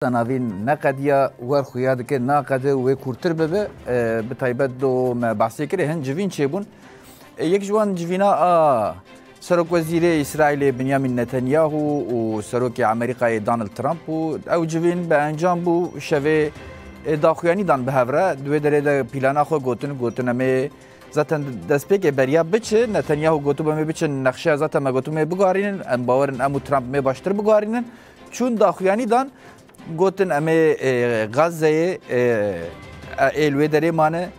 Te navîn neqediya wer xuya dike naqede û wê kûrtir bibe bi taybet do me behsê kirê hin civîn çêbûn. Yek ji wan civîna a Serokwezîrê Îsraîlê Binyamîn Netanyahu û Serokê Amerîkayê Donald Trump û ew civîn bi encam bû şevê daxuyanî dan bi hev re di wê derê de pîlana xwe gotin gotin em ê zaten destpêkê beriya biçi Netanyahu gotu me biçin nexşeya zaten me gotu me bigarînin em bawerin em û Trump me baştir bigarînin Çûn daxuyanî dan gotin em ê Gazeyê ê li wê derê mane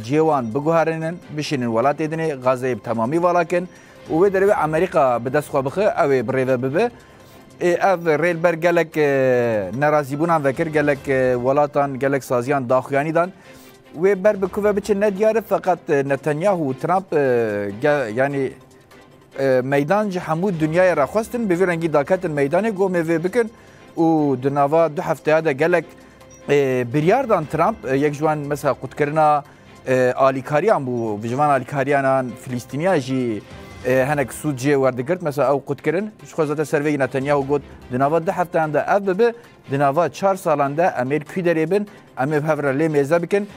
cihê wan biguherînin bişînin welatê dinê Gazeyê bi temamî vala kin û wê derê wê Amerîka bi dest xwe bixi ew ê birêve bibe. Ev rêlber gelek nerazîbûnan vekir gelek welatan gelek saziyan daxuyanî dan. Wê ber bi ku ve biçin ne diyar e feqet Netanyahu û Trump yanî Meydan ji hemû dinyayê re xwestin bi vî rengî daketin meydanê ku em ê vê bikin û di nava du hefteya de gelek biryar dan Trump yek ji wan mesela qutkirina alîkariyan bû ji van alîkariyanan Filîstîniya jî henek sûd jê werdigirt mesela ew qutkirin ji xwe zete serveyî Netanyahu got di nava du hefteyan de ev bibe Di nava çar salan de em ê li kî derê bin, em ê bi hev re lê mêze bikin.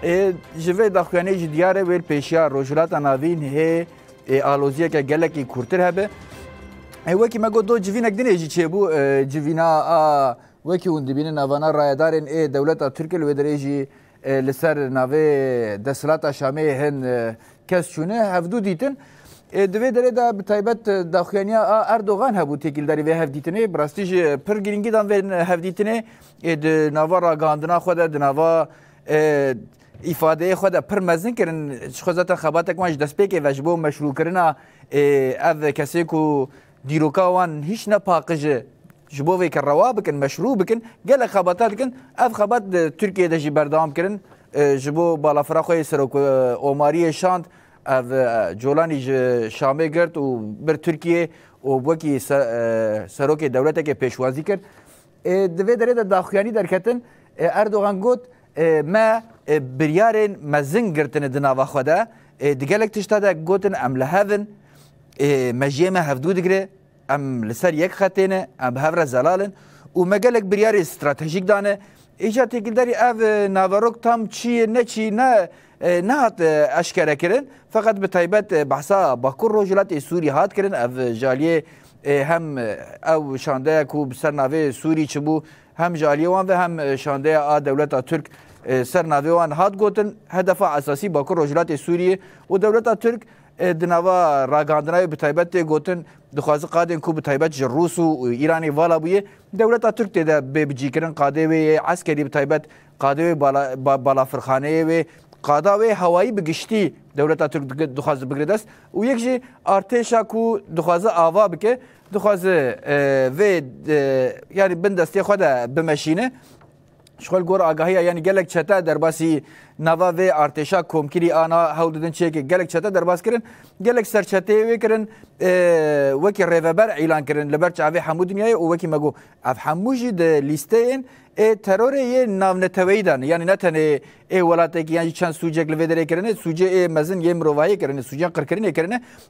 Ê ji vê daxuyaniyê jî diyar e wêl pêşiya Rojhilata Navîn hê ê aloziyeke gelekî kûrtir hebe. Ê wekî me got do civînek dinê jî çêbû civîna a wekî hûn dibînin navana rayedarên ê dewleta Tirk li wê derê jî Li ser navê desthilata Şamê hin kes çûne hevdu dîtin. Di vê derê de bi taybet daxuyaniya a Erdogan hebû têkildarî vê hevdîtinê. Bi rastî jî pir girîngî dan vê hevdîtinê. Di nava ragihandina xwe de di nava îfadeyê xwe de pir mezin kirin. Ji xwe zaten xebatek wan ji destpêkê ve ji bo meşrûkirina ev kesê ku Dîroka wan hîç ne paqij e. Ji bo vê ke rewa bikin, meşrû bikin gelek xebata dikin. Ev xebat di Tirkiyeyê de jî berdewam kirin. Ji bo balafira xwe yê Serokomariyê şand. Ev Colanî ji Şamê girt û bir Tirkiyeyê û wekî serokê dewletekê pêşwazî kir. Di vê derê de daxuyanî derketin. Erdogan got Me biryarên mezin girtine di nava xwe de, di gelek tişta de gotin em li hev in, mejiyê me hevdû digire, em li ser yek xetê ne, em bi hev re zelal in û me gelek biryarê stratejîk dane. Îcar têkildarî ev naverok tam çi ye ne çi ne nehat eşkerekirin. Feqet bi taybet behsa Bakur Rojhilatê Sûrî hat kirin. Ev ji aliyê hem ew şandeya ku bi ser navê Sûrî çibû, Hem ji aliyê wan ve hem şandeya a dewleta Tirk ser navê wan hat gotin hedefa esasî Bakur Rojhilatê Sûriyê û dewleta Tirk di nava ragihandina wê bi taybet tê gotin dixwaze qadên ku bi taybet ji Rûs û Îranê vala bûye dewleta Tirk tê de bê bicîkirin qadê wê yê eskerî bi taybet qadê wê balafirxaneyê wê qada wê hewayî bi giştî dewleta Tirk dixwaze bigire dest û yek jî artêşa ku dixwaze ava bike Dixwaze vê yanî bin destê xwe de bimeşîne. Ji xwe li gor agahiya yanî gelek çete derbasî nava vê artêşa komkirî ana hewl didin çêkê gelek çete derbas kirin. Gelek ser çeteyê wê kirin wekî rêveber îlan kirin li ber çavê hemû dinyayê û wekî me got ev hemû jî di lîsteyên ê terorê yê navneteweyî de ne yanî ne tenê ê welatekî yan jî çend sûcek li vê derê kirine sûcê ê mezin yê mirovahiyê kirine sûcên qirkirinê kirine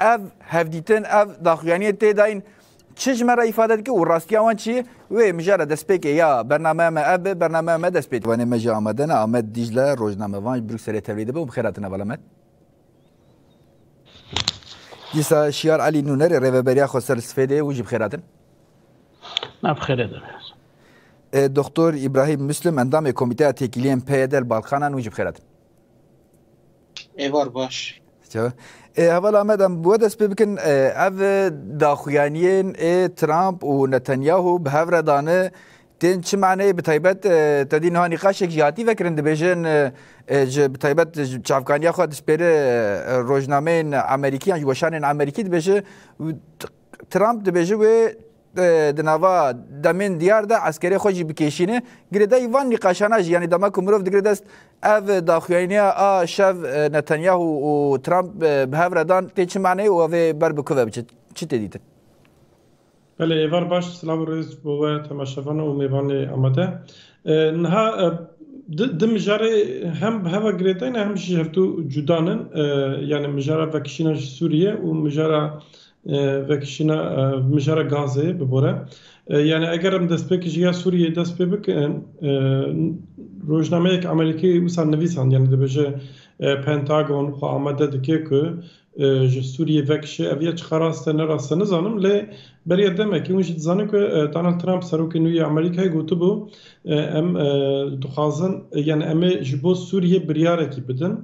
Ev hevdîtin, ev daxuyaniyê tê dayîn. Çi ji me re îfade dike û rastiya wan çi ye? Wê mijara destpêkê ya bernameya me ev be, bernameya me dest pê dibe. Wanê me jî amade ne. Amed Dîcle, rojnamevan ji Brukselê tevlî dibe û bi xêr hatin heval Amed. Dîsa Şiyar Elî Nûnerê rêveberiya xwe ser li Sifêdê hûn jî bi xêr hatin. Me bi xêrê dibe. Doktor Îbrahîm Muslim endamê Komîteya Têkiliyên PYD li Balkanan hûn jî bi xêr hatin. Êvar baş. Çawa? Ê hevala me de bi we dest pê bikin ev daxuyaniyên ê Trump û Netanyahu bi hev re dane tên çi maneyê bi taybet te dî niha nîqaşek jî hatî vekirin dibêjin ji bi taybet ji çavkaniya xwe dişpêre rojnameyên Amerîkî yan ji weşanên Amerîkî dibêje Trump dibêje wê Di nava demên diyar de eskerê xwe jî bikêşîne. Girêdayî van nîqaşana jî yanî dema ku mirov digire dest ev daxuyaynîya a şev Netanyahu û Trump bi hev re dan tê çi maneyê û ev ê ber bi ku ve biçe? Çi tê dîtin? Belê êvar baş silav û rêz bo we temaşevan û mêvanê amade. Niha di mijarê hem bi heva girêdayî ne hem jî hevdu cuda ne. Yanî mijara vekişîna ji Sûriyê û mijara Vekişîna mijara gazê bi bore. Yani eger em destpêkê ji ya Sûriyeyê dest pê bikin, rojnameyek Amerîkî wisa nivîsand yani dibêje Pentagon xwe amade dike ku ji Sûriyê vekişe. Ev ya çiqas rast e ne rast e nizanim lê beriya demekê hûn jî dizanin ku Donald Trump serokê nû yê Amerîkayê gotibû em dixwazin yani em ê ji bo Sûriyê biryarekî bidin.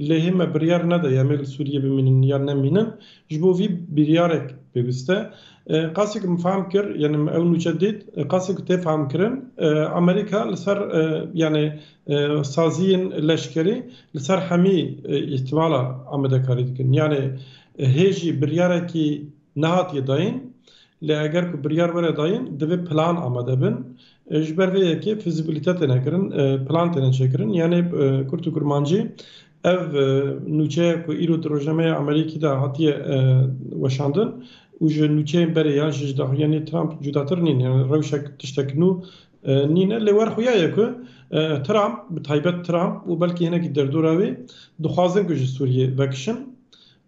Lê hê me biryar nede ya me li Sûriyê bimînin yan nemînin. Ji bo vî biryarek pêwîst e. Qasî ku min fehm kir, yanî min ew nûçe dît, qasî ku tê fehmkirin, Amerîka li ser yanî saziyên leşkerî li ser hemî îhtimala amadekarî dikin. Yanî hê jî biryarekî Nehatiye dayîn, lê eger ku biryar were dayîn divê plan amade bin. Ji ber vê yekê fîzîbîlîte têne kirin, plan têne çêkirin. Yanê Kurd û Kurmancî ev nûçeye ku îro di rojnameya Amerîkî de hatiye weşandin û ji nûçeyên berê yan jî ji daxuyaniyê Trump cudatir nîn. Yanê rewşek tiştek nû nîne. Lê wer xuya ye ku Trump, bi taybet Trump û belkî hinekî derdora wî dixwazin ku ji Sûriyê vekişin.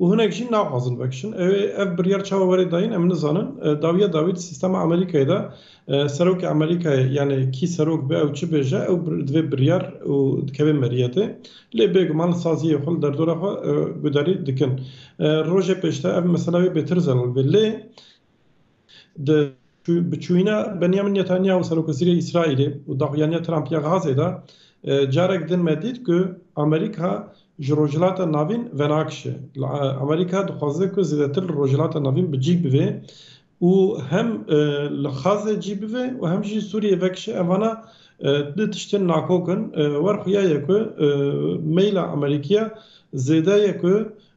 Û hinek jî naxwazin vekişin. Ew ê ev biryar çawa were dayîn em nizanin. Dawiya dawî di sîstema Amerîkayê de serokê Amerîkayê yanê kî serok be ew çi bêje ew divê biryar û dikeve meriyetê. Lê bêguman li saziyê xwe li derdora xwe guderî dikin. Rojê pêşde ev mesela wê bêtir zelal bê. Lê Di biçûyîna Benyamin Netanyahu Serokwezîrê Îsraîlê û daxuyaniya Trump ya Gazê de carek din me dît ku Amerîka ji Rojhilata Navîn venakişe. Amerîka dixwaze ku zêdetir li Rojhilata Navîn bi cî bibe û hem li Xazê cî bibe û hem jî Sûriyê vekişe evana du tiştên nakok in. Wer xuya ye ku meyla Amerîkî ya zêde ye ku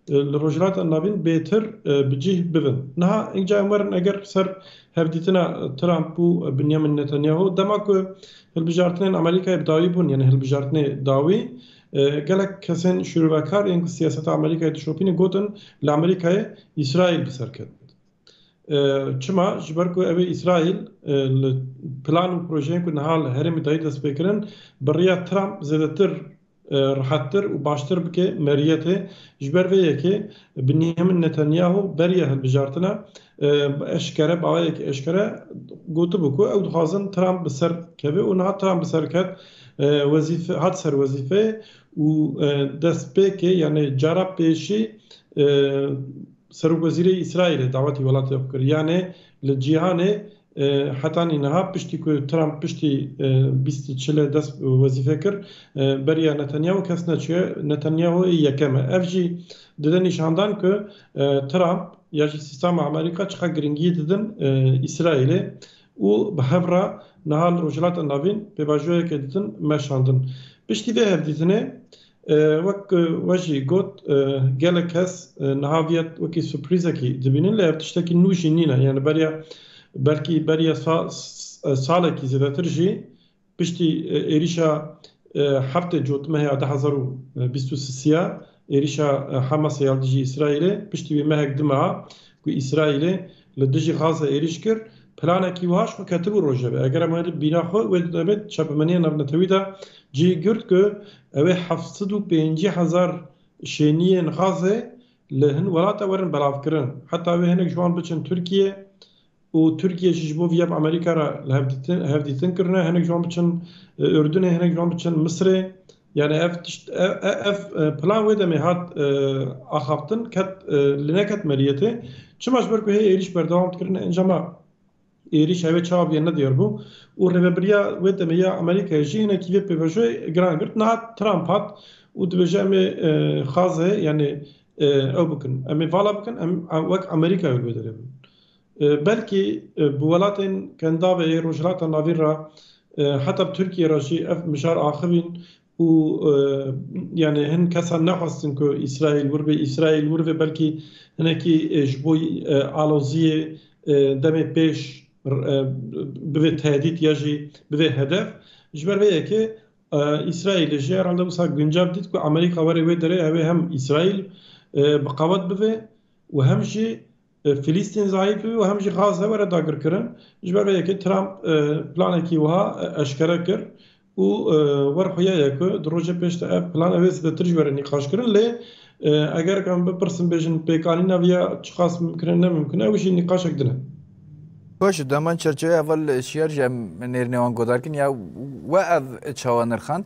li Rojhilata Navîn bêtir bi cih bibin. Niha ink ca em werin eger li ser hevdîtina Trump û Binyamin Netanyahu dema ku hilbijartinên Amerîkayê bi dawî bûn yanî hilbijartinê dawî gelek kesên şuruvekar ên ku siyaseta Amerîkayê dişopînin gotin li Amerîkayê Îsraîl bi ser ket. Çima? Ji ber ku ew ê Îsraîl li plan û projeyên ku niha li herêmê dayî destpêkirin bi riya Trump zêdetir rihettir û baştir bike meriyetê. Ji ber vê yekê Binyamin Netanyahu beriya hilbijartina bi eşkere bi awayekî eşkere gotibû ku ew dixwazin Trump bi ser keve û niha Trump bi ser ket wezîfe hat ser wezîfeyê û destpêkê yanê cara pêşî Serokwezîrê Îsraîlê dawetî welatê xwe kir yanê li cîhanê Heta nîniha piştî ku Trump piştî bîst û çile dest bi wezîfê kir, beriya Netanyahu kes neçûye, Netanyahu ê yekem e. Ev jî dide nîşandan ku Trump ya jî sîstema Amerîka çiqas giringiyî didin Îsraîlê û bi hev re niha li Rojhilata Navîn pêvajoyekê ditin meşandin. Piştî vê hevdîtinê Wek we jî got gelek kes niha vî wekî surprîzekî dibînin lê ev tiştekî nû jî nîn e. Yanî beriya belkî beriya salekî zêdetir jî piştî êrîşa heftê cotmehê ya du hezar û bîst û sisî ya êrîşa Hemasê ya li dijî Îsraîlê piştî wî mehek dime ha ku Îsraîlê Li dijî Gaza êrîş kir. Planekî wiha ji xwe ketibû rojevê. Eger em were bîra xwe wê didemên çepemeniya navnetewî de cî girt ku ew ê heft sed û pêncî hezar şêniyên Gazê li hin welate werin belavkirin. Heta wê hinek ji wan biçin Tirkiyê û Tirkiye jî ji bo vîya bi Amerîka re li hev dîtin kirine. Hinek ji wan biçin Urdunê, hinek ji wan biçin Misirê. Yanî ev tişt ev plan wê demê hat axaftin ket li neket meriyetê. Çima ji ber ku hê êrîş berdewam dikirin encama êrîş hevê çawa bûye ne diyar bû û rêvebiriya wê demê ya Amerîkayê jî hinekî vê pêvajoyê giran girt. Nihat Trump hat û dibêje em ê xaz heye yanî ew bikin. Em ê vala bikin em wek Amerîkayê li wê derê bin. Belkî bi welatên Kendavê yê Rojhilata Navîn re heta bi Tirkiyê re jî ev mijar axivîn û yanê hin kesan nexwestin ku Îsraîl wir bê. Îsraîl wir bê belkî hinekî ji bo aloziyê demê pêş bivê tehdît ya jî bivê hedef. Ji ber vê yekê Îsraîlê jî herhalde wisa guncav dît ku Amerîka were wê derê ew ê hem Îsraîl bi qewet bivê û hem jî Filîstîn zayîf bû û hem jî xas e were dagirkirin. Ji ber vê yekê Trump planekî wiha eşkere kir û wer xuya ye ku di rojê pêş de ev plan ew ê zêdetir ji were nîqaşkirin. Lê eger em bipirsin bêjin pêkanîna vê ya çiqas mimkin e ne mimkin e ew jî nîqaşek din e. Baş di heman çerçeveyê heval şiyar jî em nêrînê wan guhdarkirin ya we ev çawa nirxand?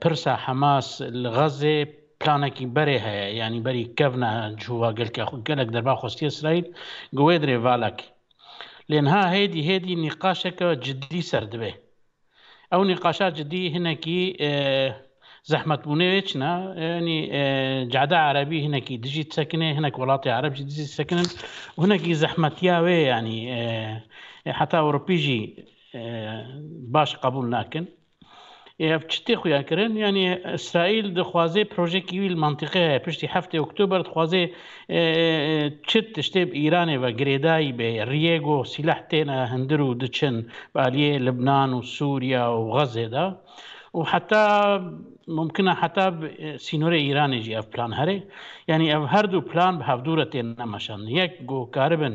Pirsa Hemas li Xazzê planekî berê heye, yanî berî kevna cûva gelkê xwe. Gelek derba xwestiye Îsraîl gi wê dirê valek. Lê niha hêdî hêdî nîqaşeke cidî ser dibe. Ew nîqaşa cidî hinekî zehmetbûnê wê çin e. Yanî cehda erebî hinekî dijî disekinê, hinek welatê ereb jî dijî disekinin û hinekî zehmetiya wê yanî heta ewropî jî baş qebûl nakin. Ê ev çi tê xuya kirin? Yanî Îsraîl dixwaze projeyekî wî li mentiqê heye. Piştî heftê Oktober dixwaze çi tiştê bi Îranê ve girêdayî bê. Riyê ku sîleh têne hundir û diçin bi aliyê Libnan û Sûriya û Xezê de û heta mumkin e heta bi sînorê Îranê jî ev plan here. Yanî ev her du plan bi hevdû re têne meşandin. Yek ku karibin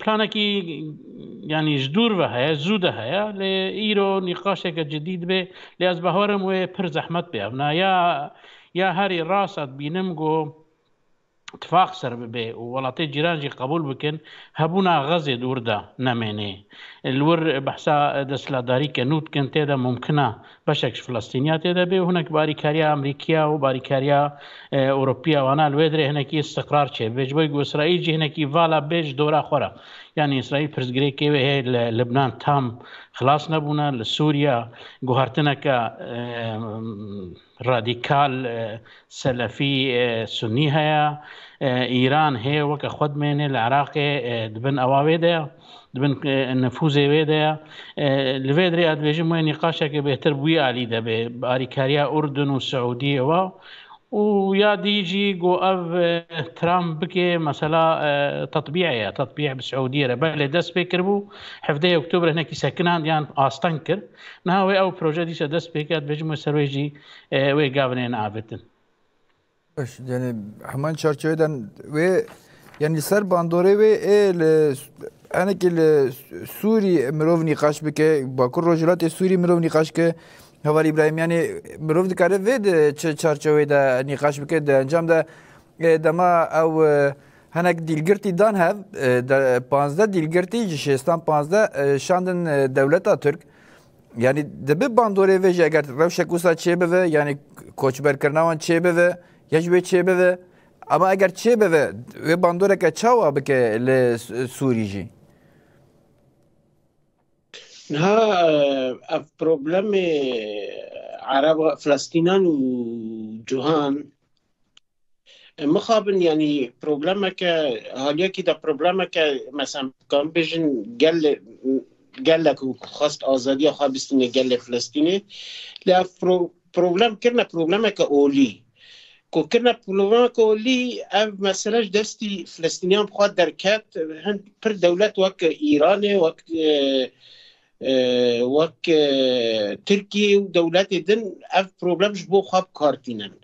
Planekî yanî ji dûr ve heye zû de heye lê îro nîqaşeke cidî dibe lê ez bawerim wê pir zehmet bê evna ya ya herî rast e dibînim ku tifaq ser bibe û welatê cîran jî qebûl bikin hebûna Xezê dûr de nemênê. Li wir behsa desthilatdarî ke nû dikin tê de mumkin e Beşek ji Filistîniya tê de bê û hinek bi alîkariya Amerîkiya û bi alîkariya Ewropiya wana li wê dirê hinekî îstiqrar çêbibe. Ji bo ku Îsraîl jî hinekî vala bê ji dora xwe re. Yanî Îsraîl pirsgirêkê wê hê li Libnan tam xilas nebûne, li Sûriya guhertineke radîkal selefî sunî heye. Îran hê weke xwe dimêne li Iraqê di bin ewa wê de ye. di bin nifûzê wê de ye. Li vê derê ez dibêjim wê nîqaşeke bêhtir bi wî alî de bê, bi alîkariya Urdun û Siûdiyê we û ya dî jî ku ev Trump bike mesela tetbîe ye, tetbîe bi Siûdiyê re. Belê dest pê kiribû, hevdeyê Oktûberê hinekî sekinand yan asteng kir. Niha wê ew proje dîsa dest pê kir, ez dibêjim wê ser wê jî wê gavinên avêtin. Baş yani hemen çerçevede wê yani ser bandorê wê ê li enekî li Sûrî mirov nîqaş bike Bakur Rojhilatê Sûrî mirov nîqaş ke Heval İbrahim yani mirov dikare vê di çi çerçevê de nîqaş bike di encam de dema ew henek dîlgirtî dan hev panzdeh dîlgirtî ji şêstan panzdeh şandin dewleta Tirk Yanî dibe bandorê vê jî eger rewşek wisa çêbive yanî koçberkirina wan çêbive ya ji wê çêbive ama eger çêbive wê bandoreke çawa bike li Sûrî jî. Niha ev problemê Ereba Filistînan û cihan Mixabin yanî problemeke haliyekî de problemeke mesela kan bêjin gel gelek û xwest azadiya xwe bistîne gelê Filistînê lê ev problem kirine problemeke olî ku kirine problemeke olî ev mesele ji destî Filistîniyan bi xwe derket hin pir dewlet wek Îranê wek wek Tirkiyê û dewletê din ev problem ji bo xwe bi kar tînin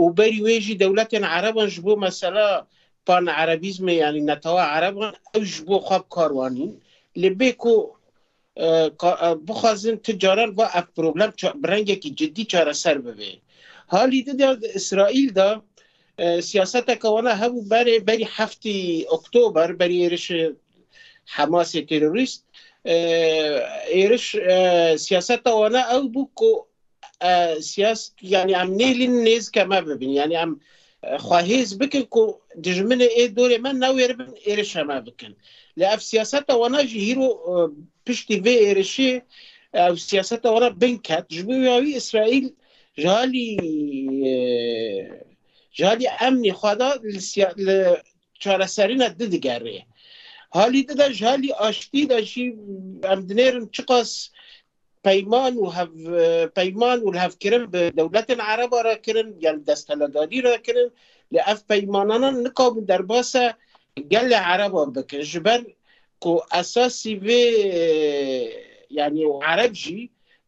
û berî wê jî dewletên ereban ji bo mesela pan-erebîzmê yanî netewa ereban ew ji bo xwe bi kar wan in. Lê bê ku bixwazin ti caran va ev problem bi rengekî cidî çareser bibe. Halî di de di Îsraîl de Siyaseteke wana hebû berê berî heftî Oktober berî êrişê Hemasê terorîst. Êriş siyaseta wana ew bû ku siyas yanî em nêlîn nêzike me bibin. Yanî em xwe hêz bikin ku dijminê ê dorê me newêribin êrişa me bikin. Lê ev siyaseta wana jî hîro piştî vê êrişê ew siyaseta wana bin ket. Ji bo wî ya wî Îsraîl Ji alî ji alî emnî xwe de li siya li çareserîna di digerê. Halî di de ji alî aştî de jî em dinêrin çiqas peyman û hev peyman û hevkirin bi dewletên Ereba re kirin ya li desthiledarî re kirin lê ev peymanana nikabin derbasa gelê Ereba bikin ji ber ku esasî vê yanî Ereb jî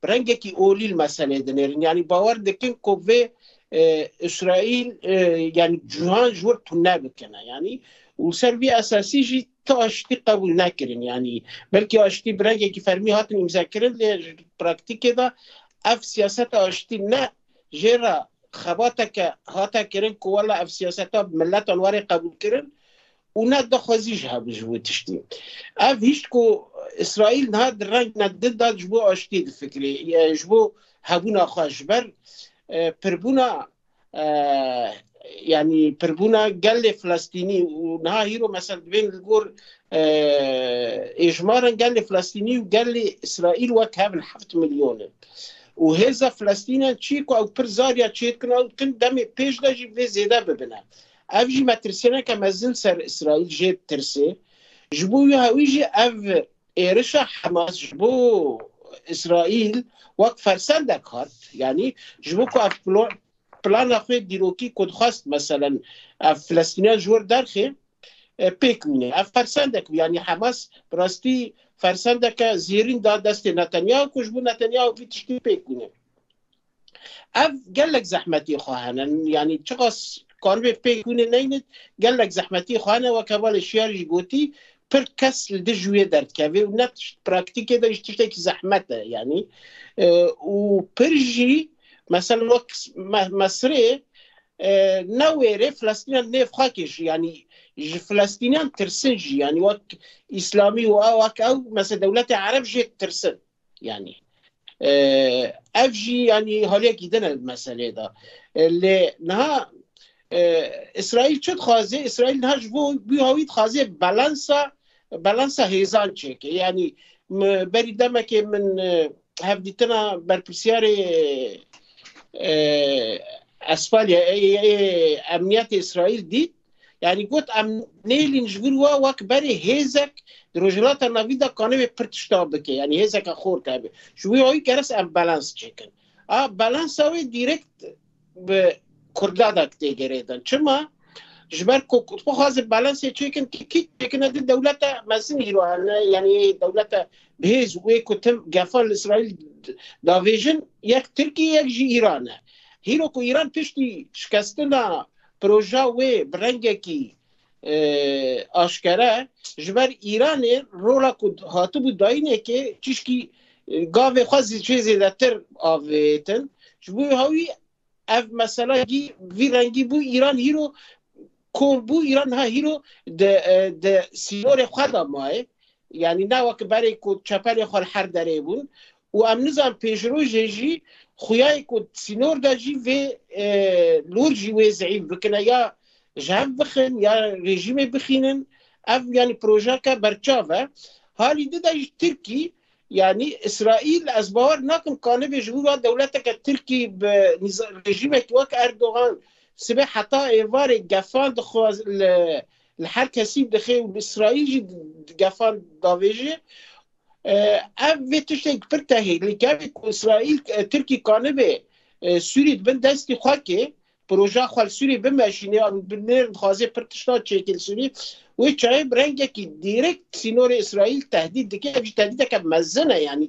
bi rengekî olî li meseleyê dinêrin. Yanî bawer dikin ku vê Îsraîl yanî cîhan ji wir tune bikine yanî û li ser vî esasî jî ti aştî qebûl nekirin yanî belkî aştî bi rengekî fermî hatin îmzekirin lê ji praktîkê de ev siyaseta aştî ne jê re xebateke hate kirin ku wela ev siyaseta bi miletan warê qebûl kirin û ne daxwazî jî hebû ji bo tiştî. Ev hîşt ku Îsraîl niha di rengna din de ji bo aştiyê difikirê, ji bo hebûna xwe ji ber pirbûna yanî pirbûna gelê Filistînî û niha hîro mesel dibên li gor êjmaran gelê Filistînî û gelê Îsraîl wek hev in heft milyon in û hêza Filistînan çî ku ew pir zariya çêdikin ew dikin demê pêş de jî vê zêde bibine. Ev jî metirsîneke mezin ser Îsraîl jê ditirsê. Ji bo wî jî ev êrişa Hemas ji bo Îsraîl wek fersendek hat. Yanî ji bo ku ev plana xwe dîrokî ku dixwest meselen ev Filistîniyan ji wir derxê pêk mîne. Ev fersendek bû. Yanî Hemas bi rastî fersendeke zêrîn da destê Netanyahu ku ji bo Netanyahu vî tiştî pêk mîne. Ev gelek zehmetî xwe hene yanî çiqas karibê pêk hûnê neyne gelek zehmetî xwe hene wek hevalê şiyar jî gotî pir kes li dij wê derdikevê û ne tişt praktîkê de jî tiştekî zehmet e yanî û pir jî mesel wek Mesirê newêrê Filestînan nêv xwe kê jî yanî ji Filestînan tirsin jî yanî wek îslamî û ew wek ew mesel dewletê ereb jê tirsin. yanî ev jî yanî halekî din e meselê de lê niha İsrail çi dixwazê İsrail niha ji bo wî hawî dixwazê balansa balansa hêzan çêke yanî berî demekê min hevdîtina berpirsiyarê Esfalya emniyetê İsrail dît Yani got em nêlîn ji vir wa wek berê hêzek di Rojhilata Navîn de kanivê pir tişta bike yanî hêzeke xor tebe. Ji wî ayî geres em balans çêkin. A balansa wê direkt bi Kurda da tê gerêdin. Çima? Ji ber ku xwazin balansê çêkin ki kî çêkine di dewlete mezin hîro hene yanî dewlete bihêz wê ku tim gefan li İsraîl davêjin yek Tirkiye yek jî Îran e. Hîro ku Îran piştî şikestina Proja wê bi rengekî aşkere ji ber Îranê rola ku hatibû dayînekê çîşkî gavê xwe jê zêdetir avêtin. Ji bo hewî ev mesela gî vî rengî bû Îran hîro kom bû Îran niha hîro di di sînorê xwe de mayê. Yanî ne weke berê ku çeperê xwe li her derê bûn Û em nizan pêşrojê jî xuyayê ku di sînor de jî vê lûr jî wê zeîf bikine ya ji hev bixin ya rejîmê bixînin ev yanî projeke berçav e. Halî di de jî Tirkî yanî Îsraîl ez bawer nakim ka nebe ji bo va dewleteke Tirkî bi rejîmekî wek Erdogan sibê heta êvarê gefan dixwe li li her kesî dixe û li Îsraîl jî gefan davêje Ev vê tiştên pir tehî li gavê ku Îsraîl Tirkî kanibê Sûrî di bin destî xwe kê, proja xwe li Sûrî bimeşînê an bi nêr dixwazê pir tiştan çêkê li Sûrî. Wê çayê bi rengekî dîrêk sînorê Îsraîl tehdît dike. Ev jî tehdîteke mezin e yanî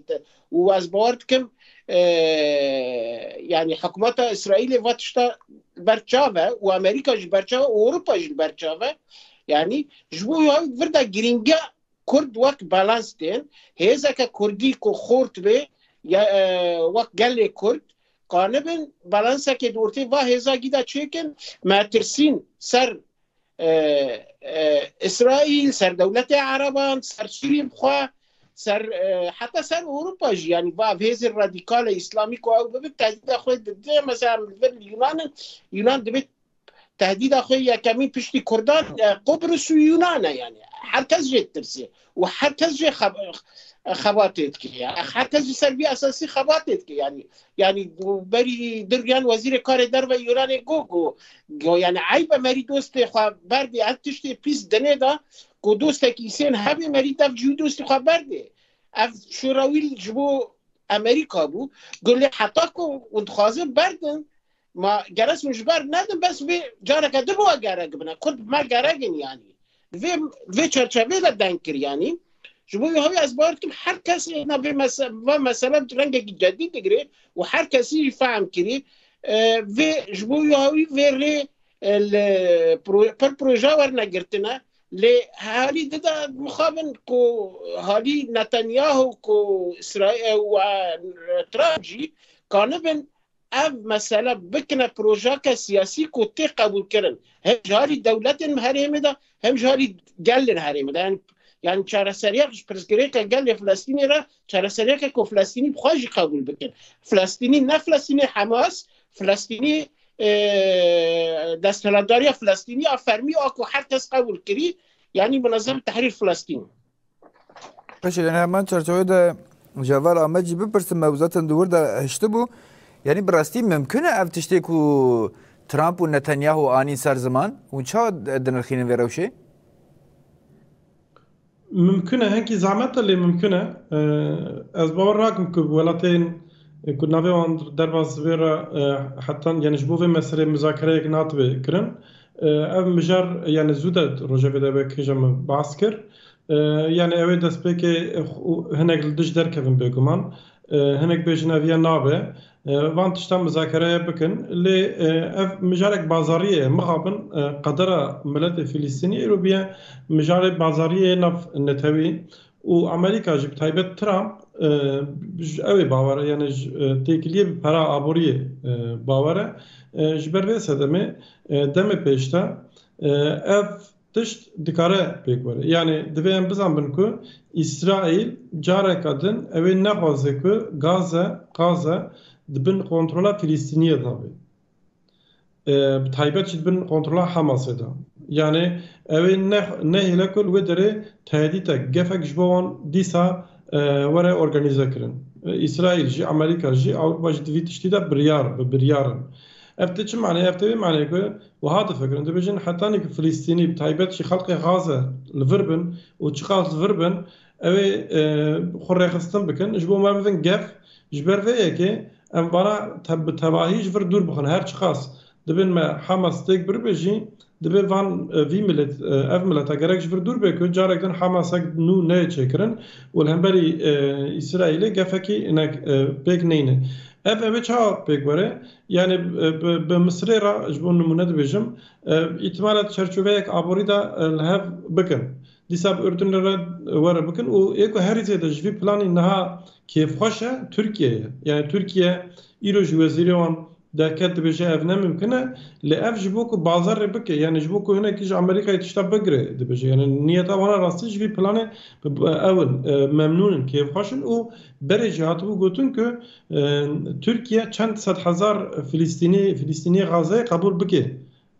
û ez bawer dikim yanî hikûmeta Îsraîlê va tişta li ber çav e û Amerîka jî li ber çav e û Ewropa jî li ber çav e. Yanî ji bo vir de girîngiya Kurd wek balans tên, hêzeke kurdî ku xort bê ya wek gelê kurd qanibin balansekê di ortê va hêza gîda çêkin, metirsîn ser Îsraîl, ser dewletê ereban, ser sûrîn xwe, ser heta ser Ewropa jî yanî va ev hêzên radîkale îslamî ku ew bibin tehdîda xwe didin, mesela li vir Yunan in, Yunan dibê Tehdîda xwe yekemîn piştî Kurdan Qubrus û Yunan e yani. Her kes jê ditirsiye û her kes jê xebatê dike. Her kes ji ser vî esasî xebatê dike yani. Yani berî dirgiyan wezîrê karê derve Yunanê got ku got yani eyb e merî dostê xwe berdê ev tiştê pîs dinê de ku dostekî îsên hebê merî dev cî wî dostî xwe berdê. Ev şorawîl ji bo Amerîka bû. Got lê heta ku hûn dixwazin berdin Ma gerek min ji ber nedim bes vê careke din we gerek bine. Kurd bi me gerek in yanî. Di vê di vê çerçeveyê de deng kir yanî. Ji bo wî hewî ez bawer dikim her kes hêna vê mese va mesele rengekî cedî digirê û her kesî jî fehm kirî vê ji bo wî hewî vê rê li pir proje werine girtine lê herî di de mixabin ku halî Netanyahu ku Îsraîl û Trump jî kanibin Ev mesele bikine projake siyasî ku tê qebûlkirin hem ji alî dewletên herêmê de hem ji alî gelên herêmê de. Yanî yanî çareseriyek ji pirsgirêka gelê Flestînê re çareseriyeke ku Flestînî bi xwe jî qebûl bikin. Flestînî ne Flestînê Hemas, Flestînî desthilatdariya Flestînî a fermî a ku her kes qebûl kirî yanî Munezem Tehrîr Flestîn. Eşê yani hemen çerçeveyê de Cevar Amed jî bipirsim ew zaten di wir de hiştibû. Yani bi rastî mimkun e ev tiştê ku Trump û Netanyahu anîn ser ziman û ça dinirxînin vê rewşê? Mimkun e hinkî zehmet e lê mimkun e. Ez bawer nakim ku welatên ku navê wan derbas vê re hetan yani ji bo vê meselê muzakereyek natibe kirin. Ev mijar yanê zû de rojevê de wê kêja min bas kir. Yanê ew ê destpêkê hinek li dij derkevin bêguman. Hinek bêjin ev ya nabe. Van tiştan mizakereye bikin. Lê ev mijarek bazariyê ye. Mixabin qedera miletê Fîlîstînî îro bûye mijarê bazariyê yê nav netewî. Û Amerîka jî bi taybet Trump ji ew ê bawer e yanê ji têkiliyê bi pera aboriyê bawer e. Ji ber vê sedemê demê pêş de ev tişt dikare pêk were. Yanê divê em bizanbin ku Îsraîl careke din ew ê nexwaze ku Gaze, Gaze, di bin kontrola Filîstîniyê de be. Bi taybet jî di bin kontrola Hamasê de. Yanê ew ê nehêle ku li wê derê tehdîtek, gefek ji bo wan dîsa were organîzekirin. Îsraîl jî, Amerîka jî, Ewropa jî di vî tiştî de biryar bi biryar in. Ev tê çi maneyê? Ev tê vê maneyê ku wiha difikirin, dibêjin heta nî ku Filîstînî bi taybet jî xelkê Xaze li vir bin û çiqas li vir bin, Ew ê xwe rêxistin bikin. Ji bo me bidin gef. Ji ber vê yekê em vana bi tevahî ji vir dûr bixin. Her çiqas dibên me hema stêk biribê jî divê van vî milêt ev mileta gerek ji vir dûr bê ku carek din Hemasek nû neyê çêkirin û li hemberî Îsraîlê gefekî inek pêk neyne. Ev ew ê çawa pêk were? Yanî bi Misirê re ji bo nimûne dibêjim, îhtimal e di çerçoveyek aborî de li hev bikin. Dîsa bi Urdunê re were bikin û yê ku herî zêde ji vî planî niha kêfxweş e Tirkiye ye. Yanî Tirkiye îro ji wezîrê wan derket dibêje ev ne mimkin e lê ev ji bo ku bazarê bike yanî ji bo ku hinekî ji Amerîkayê tişta bigire dibêje. Yanî niyeta wan a rastî ji vî planê ew in memnûn in kêfxweş in û berê jî hatibû gotin ku Tirkiye çend sed hezar Filîstînî Filîstîniyê Xazeyê qebûl bike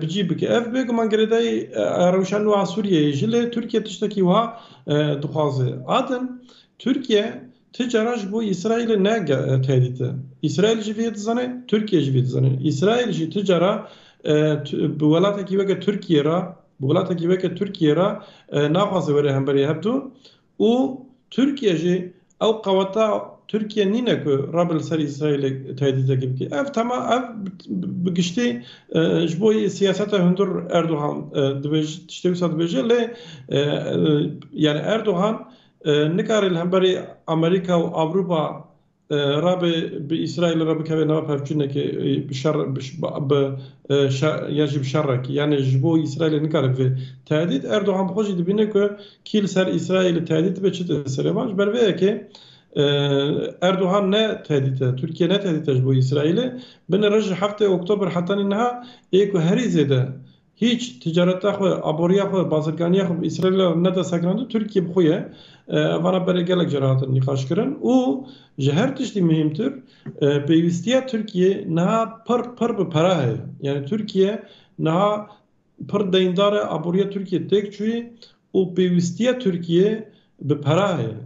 bi cî bike. Ev bêguman girêdayî rewşa nû a Sûriyeyê jî lê Tirkiye tiştekî wiha dixwaze. Adem, Tirkiye ti cara ji bo Îsraîlê ne tehdît e. Îsraîl jî vê dizane, Tirkiye jî vê dizane. Îsraîl jî ti cara bi welatekî weke Tirkiye re bi welatekî weke Tirkiye re naxwaze were hemberî hev du Û Tirkiye jî ew qeweta Tirkiye nîne ku rebe li ser Îsraîlê tehdîtekî bike. Ev tema ev bi giştî ji bo siyaseta hundir Erdogan dibêje tiştê wisa dibêje lê yanî Erdogan nikare li hemberî Amerîka û Ewropa Rabe bi Îsraîlê re bikeve nava pevçûnekê bi şer bi ya jî bi şerekî yanê ji bo Îsraîlê nikare bibe tehdît. Erdogan bi xwe jî dibîne ku kî li ser Îsraîlê tehdît dibe çi tê serê wan. Ji ber vê yekê Erdogan ne tehdît e, Tirkiye ne tehdît e ji bo Îsraîlê. Binê roj ji heftê Oktober heta nîniha ê ku herî zêde Hîç ticareta xwe, aboriya xwe, bazirganiya xwe bi Îsraîlê re neda segrandin, Tirkîye bi xwe ye. Evana berê gelek cara hatin nîqaşkirin û ji her tiştî muhîmtir pêwîstiya Tirkîyê niha pir pir bi pere heye. Yanî Tirkîye niha pir deyndar e, aboriya Tirkîyê têk çûyî û pêwîstiya Tirkîyê bi pere heye.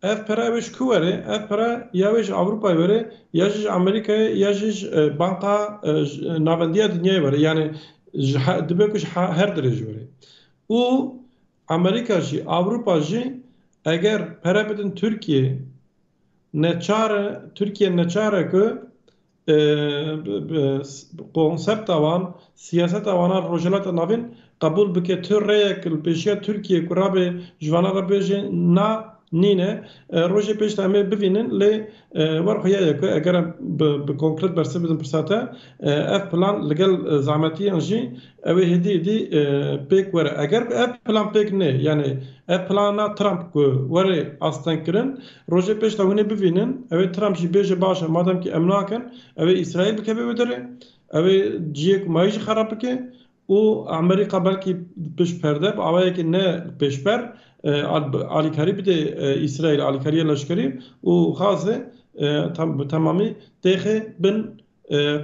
Ev pere ew ê ji ku were? Ev pere ya wê ji Ewropayê were, ya jî ji Amerîkayê, ya jî ji Banka Navendiya Dinyayê were. Yanî dibe ku ji her dirê jî were. Û Amerîka jî, Ewropa jî eger pere bidin Tirkiyeyê neçar e, Tirkiye neçar e ku Konsepta wan, siyaseta wan a Rojhilata Navîn qebûl bike tu rêyek li pêşiya Tirkiyeyê ku rabe ji wan re bêje na nîne. Rojê pêş de em ê bivînin lê wer xuya ye ku eger em bi konkret bersiv bidin pirsa te ev plan li gel zehmetiyan jî ew ê hêdî êdî pêk were. Eger ku ev plan pêk nê yanî ev plana Trump ku were astengkirin Rojê pêş de hûn ê bivînin, ew ê Trump jî bêje baş e, mademkî em nakin, ew ê Îsraîl bikeve wê derê, ew ê cihê ku mayî jî xerab bike û Emerîka belkî pişt perde bi awayekî ne pêşber alîkarî bide Îsraîlê, alîkariya leşkerî û xasê bi temamî têxê bin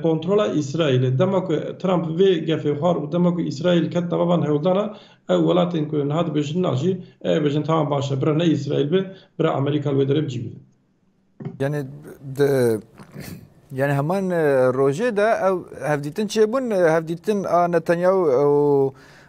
Kontrola Îsraîlê. Dema ku Trump vê gefê xwar û dema ku Îsraîl ket nava van hewldana, ew welatên ku niha dibêjin na jî, ew ê bêjin tamam baş e, bira ne Îsraîl be, bira Amerîka li wê derê bi cî bibe. Yanî di yanî heman rojê de ew hevdîtin çêbûn, hevdîtin a Netanyahu û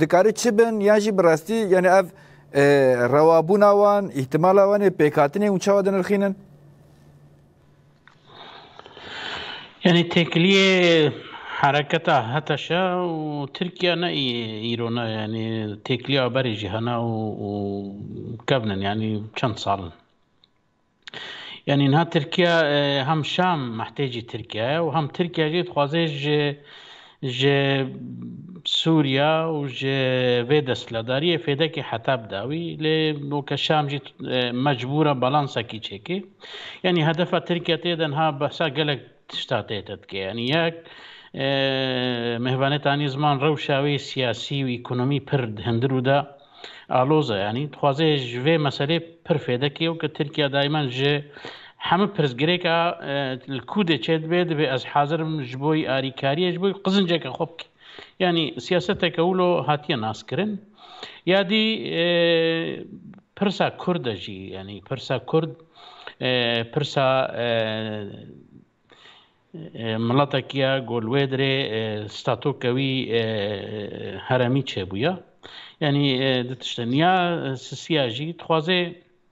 Dikare çi bin yan jî bi rastî yanî ev rewabûna wan, îhtimala wan ê pêkhatinê hûn çawa dinirxînin? Yanî têkiliyê hereketa HTŞ û Tirkiye ne îro ne yanî têkiliya berê jî hene û kevnin yanî çend sal in. Yanî niha Tirkiya hem Şam mehtêcî Tirkiya ye û hem Tirkiya jî dixwaze ji ji Sûriya û ji vê desthilatdariyê fêdekê heta bida wî lê weke Şam jî mecbûra balansekî çêkê. Yanî hedefa Tirkiya tê de niha behsa gelek Tişta tête dike yanî yek mehvanetanî ziman rewşa wê siyasî û ekonomî pir hindir û da aloz e yanî dixwaze ji vê meselê pir fêdek ê û ke Tirkîya dayman ji hemû pirsgirêka li kû dê çêdibe, divê ez hazir bim ji bo wî arîkarîyê ji bo wî qizinceke xwe bike. Yanî siyaseteke wilo hatiye naskirin. Ya dî pirsa Kurd e jî yanî pirsa Kurd pirsa miletekî ye ku li wê dirê statoka wî heremî çêbûye. Yanî di tiştên ya sisiya jî dixwaze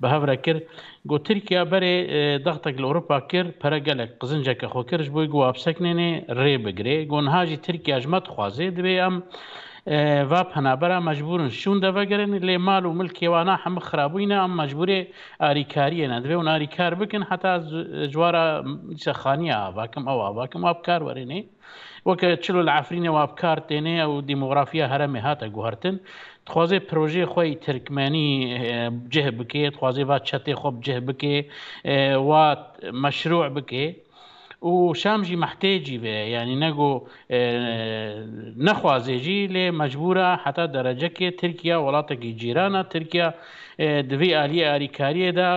bi hev re kir. Got Tirkiya berê daxtek li Ewropa kir, pere gelek qizinceke xwe kir ji bo ku hapsekinênê rê bigirê. Got niha jî Tirkiya ji me dixwaze, divê em va penabera mecbûr in şûn de vegerin, lê mal û milkê wan a hemû xirabûyne, em mecbûrê arîkariyê ne, divê hûn arîkar bikin heta ez ji wara dîsa xaniya ava kim, ew ava kim, ava bi kar werênê. Weke çilo li Efrînê wa bi kar têne û dîmografîya heremê hate guhertin. Dixwaze projeyê xwe yê tirkmenî bi cih bike, dixwaze va çetê xwe bi cih bike, wa meşrû bike û şam jî mehtêcî be, yanî ne go nexwaze jî lê mecbûr e heta derecekê Tirkîya welatekî cîran e, Tirkîya di vî aliyê arîkariyê de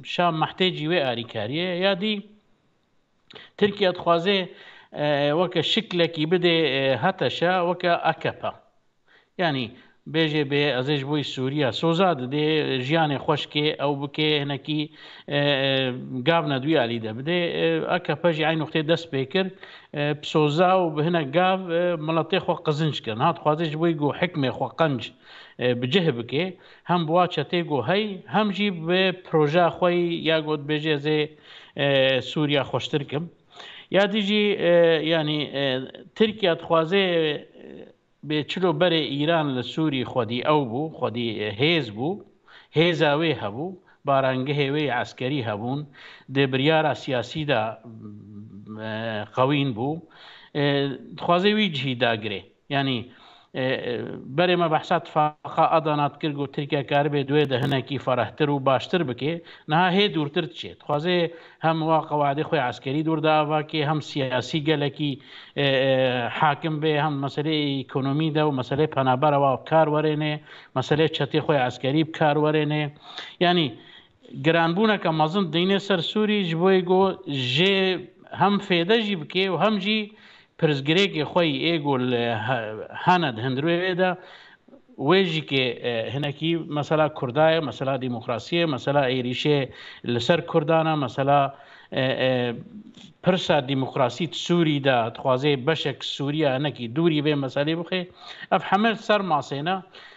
şam mehtêcî wê arîkariyê ye. Ya dî Tirkiye dixwaze weke şiklekî bidê HTŞ weke AKP. Yanî bêjê bê ez ê ji bo Sûriya soza didê jiyanê xweş kê ew bikê hinekî gav ne duya elî de bidê. AKP jî eyn nuqtê dest pê kir bi soza û bi hinek gav miletê xwe qizinc kirin. Hat dixwaze ji bo ku hikmê xwe qenc bi cih bikê Hem bi wa çetê got hey, hem jî bi projeya xwe yî ya got bêje ez ê Sûriya xweştir kim. Ya dî jî yanî Tirkiya dixwazê bê çilo berê Îran li Sûrî xwedî ew bû, xwedî hêz bû, hêza wê hebû, barangehê wê yê eskerî hebûn, di biryara siyasî de qewîn bû. Dixwazê wî cihî dagirê. Yanî berê me behsa tifaqa Adana dikir ku Tirkiye karibê duê de hinekî ferehtir û baştir bikê, niha hê dûrtir diçê. Dixwazê hem wa qewedê xwe ya eskerî dûr de ava kê, hem siyasî gelekî hakim bê, hem meseleyê ekonomî de û meseleyê penabera wa bi kar werênê, meseleyê çetê xwe ya eskerî bi kar werênê. Yanî Giranbûneke mezin dîne ser Sûrî ji bo êgo jê hem fêde jî bike û hem jî pirsgirêkê xwe yî êgo li hene di hundirûyê de wê jî ke hinekî mesela Kurda ye, mesela demokrasî ye, mesela êrîşê li ser Kurdan e, mesela pirsa demokrasî di Sûrî de dixwaze beşek Sûriya hinekî dûrî vê meselê bixe. Ev heme ser masê ne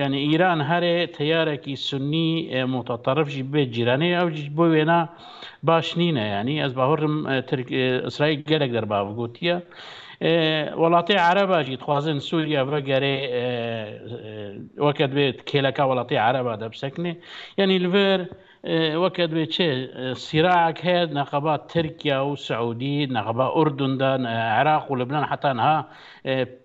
Yanî Îran herê teyarekî sunnî mutaterif jî bibe cîranê ew jî bo wêna baş nîne. Yanî ez bahurim Îsraîl gelek derbav gotiye. Welatê Ereba jî dixwazin Sûriye vegerê weke divê kêleka welatê Ereba de bisekinê. Yanî li vir weke divê çi sîraek heye neqeba Tirkiye û Siûdî, neqeba Urdun de, Iraq û Libnan heta niha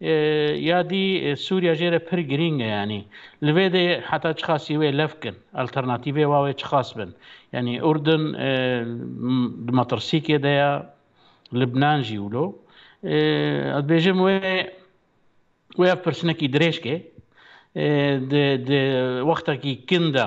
Ya dî Sûriya jê re pir girîng e yanî li vê de heta çiqasî wê lev kin alternatîvê wa wê çiqas bin. Yanî Urdun di metirsîkê de ya, Libnan jî wilo. Ez dibêjim wê wê ev pirsinekî dirêj ke di di wextekî kin de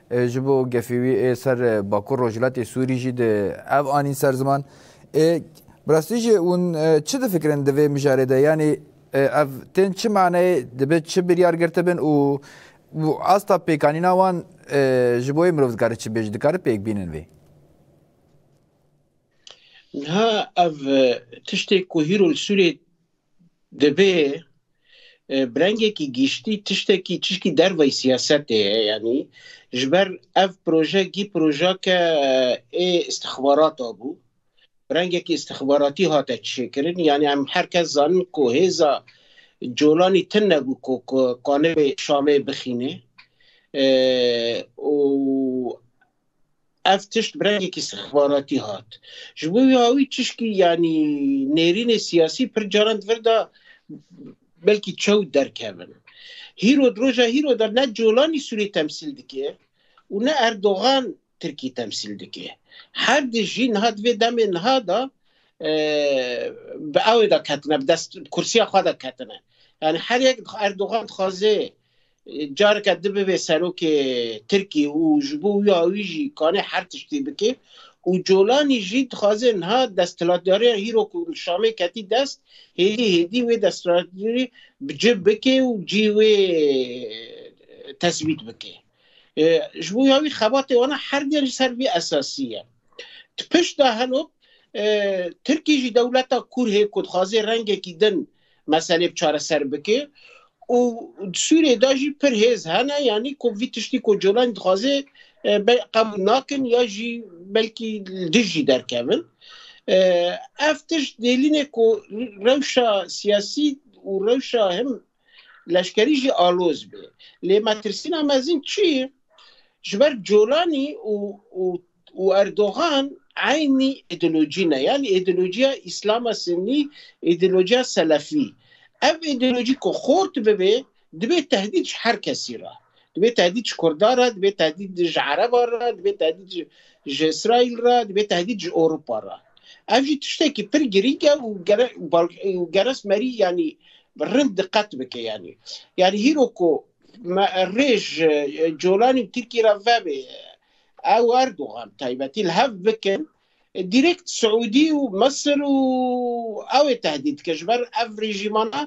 Ji bo gefê wî ê ser Bakur Rojhilatê Sûrî jî di ev anîn ser ziman. Bi rastî jî hûn çi difikirin di vê mijarê de? Yanî ev tên çi maneyê, dibe çi biryar girtibin û asta pêkanîna wan ji bo wê mirov dikare çi bêje? Dikare pêk bînin vê? Niha ev tiştê ku hîro li Sûriyê Divê bi rengekî giştî tiştekî çişkî derveyî siyasetê ye yanî ji ber ev proje gî projake ê îstixbarata bû. Bi rengekî îstixbaratî hate çêkirin yanî em her kes zanin ku hêza Colanî tin nebû ku qanûnê Şamê bixînê û Ev tişt bi rengekî sixbaratî hat. Ji bo wî awî çişkî yanî nêrînê siyasî pir caran di vir de belkî çew derkevin. Hîro di roja hîro de ne Colanî Sûrî temsîl dike û ne Erdogan Tirkî temsîl dike. Her di jî niha di vê demê niha de bi ewê de ketine bi dest bi kursiya xwe de ketine. Yanî her yek Erdogan dixwaze Careke di bibê serokê Tirkî û ji bo wî awî jî kanê her tiştî bikê û Colanî jî dixwazê niha desthilatdariya hîro ku li Şamê ketî dest hêdî hêdî wê desthilatdarî bi cih bikê û cî wê tesbît bikê. Ji bo wî xebatê wana her diyan jî ser vî esasî ye. Di pişt de heno Tirkî jî dewleta Kurd hê ku dixwazê rengekî din meselê bi çareser bike û di Sûriyê de jî pir hêz hene yanî ku vî tiştî ku Colan dixwaze qebûl nakin ya jî belkî dij jî derkevin. Ev tişt dêlînê ku rewşa siyasî û rewşa him leşkerî jî aloz bê. Lê metirsîna mezin çi ye? Ji ber Colanî û û Erdogan eynî îdeolojî ne yanî îdeolojiya Îslama Sinnî, îdeolojiya Selefî. Ev îdeolojî ku xort bibe dibê tehdît ji her kesî re. Dibê tehdît ji Kurda re, dibê tehdît ji Ereban re, dibê tehdît ji ji Îsraîl re, dibê tehdît ji Ewropa re. Ev jî tiştekî pir girîng e û gere û geres merî yanî rind diqet bike yanî. Yanî hîro ku me rê ji Colanî û Tirkî re vebe Ew Erdogan taybetî li hev bikin direkt Siûdî û Misir û ew ê tehdît dikin. Ji ber ev rejîmana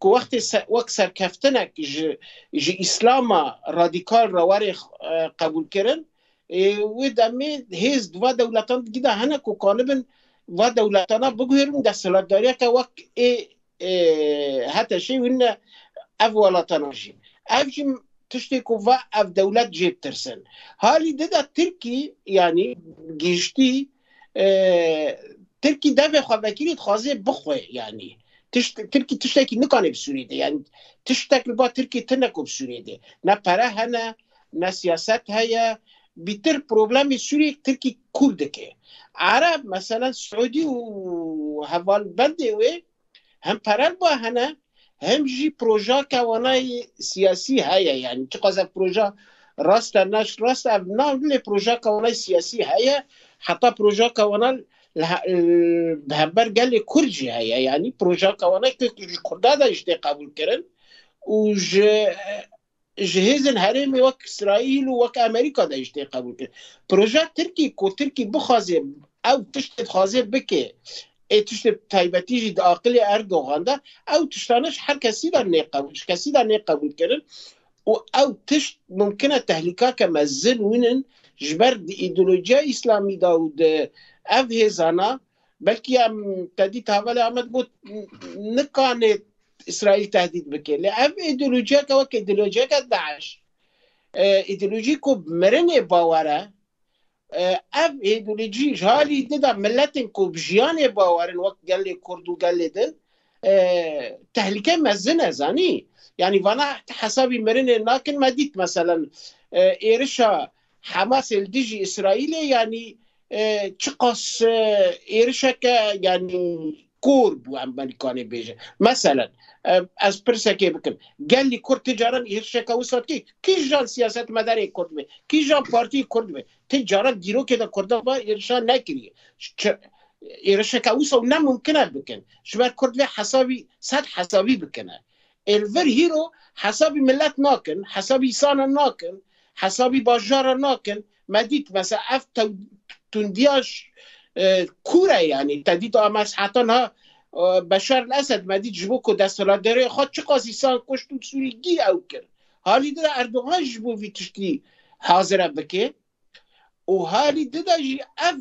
ku wextê wek serkeftinek ji ji îslama radîkal re were qebûlkirin ê wê demê hêz di va dewletan digîda hene ku kanibin va dewletana biguhêrin û desthilatdariyeke wek ê ê heta şê wî ne ev welatana jî. Ev jî tiştê ku va ev dewlet jê bitirsin. Halî di de Tirkî yanî gihiştî Tirkî devê xwe vekirî dixwazê bixwe yanî. Tişt Tirkî tiştekî nikanê bi Sûriyê de yanî tiştek li ba Tirkî tine ku bi Sûriyê de ne pere hene ne siyaset heye bîtir problemê Sûriyê Tirkî Kurdek e. Arab meselen Siûdî û hevalbendê wê hem perelba hene hem jî projake wana yê siyasî heye yanî çiqas ev proja rast e ne rast e ev na lê projake wana yê siyasî heye heta projake wana bi hember gelê Kurd jî heye yanî projake wana ku ji Kurda de jî tê qebûlkirin û ji ji hêzên herêmê wek Îsraîl û wek Amerîka de jî tê qebûlkirin. Projeya Tirkî ku Tirkî bixwazê ew tiştê dixwazê bike, ê tiştê taybetî jî di aqilê Erdogan de, ew tiştane ji her kesî de nê qebûl ji kesî de nê qebûlkirin û ew tişt mimkin e tehlîkake mezin wînin ji ber di îdeolojîya Îslamî de û di ev hêzana Belkî em tedît havale Amed got nikanê Îsraîl tehdît bike. Lê ev îdeolojiyeke wek îdeolojiyeke DAIŞ îdeolojî ku bi mirinê bawer e ev îdeolojî ji halî di de miletên ku bi jiyanê bawer in wek gelê Kurd û gelê din tehlike mezin e zanî. Yanî vana hesabî mirinê nakin me dît meselen êrişa Hamasê li dijî Îsraîlê yanî çiqas êrişeke yanî kor bû em belî kanê bêje. Meselen ez pirsekê bikim. Gelî Kurd ti caran êrişeke wisa dikî? Kîjan siyasetmedarê Kurd be, kîjan partî Kurd be, ti caran dîrokê de Kurdan va êrişan nekiriye. Êrişeke wisa ne mumkin e bikin. Ji ber Kurd vê hesabî sed hesabî bikine. Êr vir hîro hesabî milet nakin, hesabî isanan nakin, hesabî bajaran nakin. Me dît mesela ev tundiya kûr e yanî. Te dît a meshetan ha Beşar el Esed me dît ji bo ku desthilatdariyê xwe çiqas îsan kuşt û sûrî gî ew kir. Halî dira Erdogan ji bo vî tiştî hazire bike. û harî di de jî ev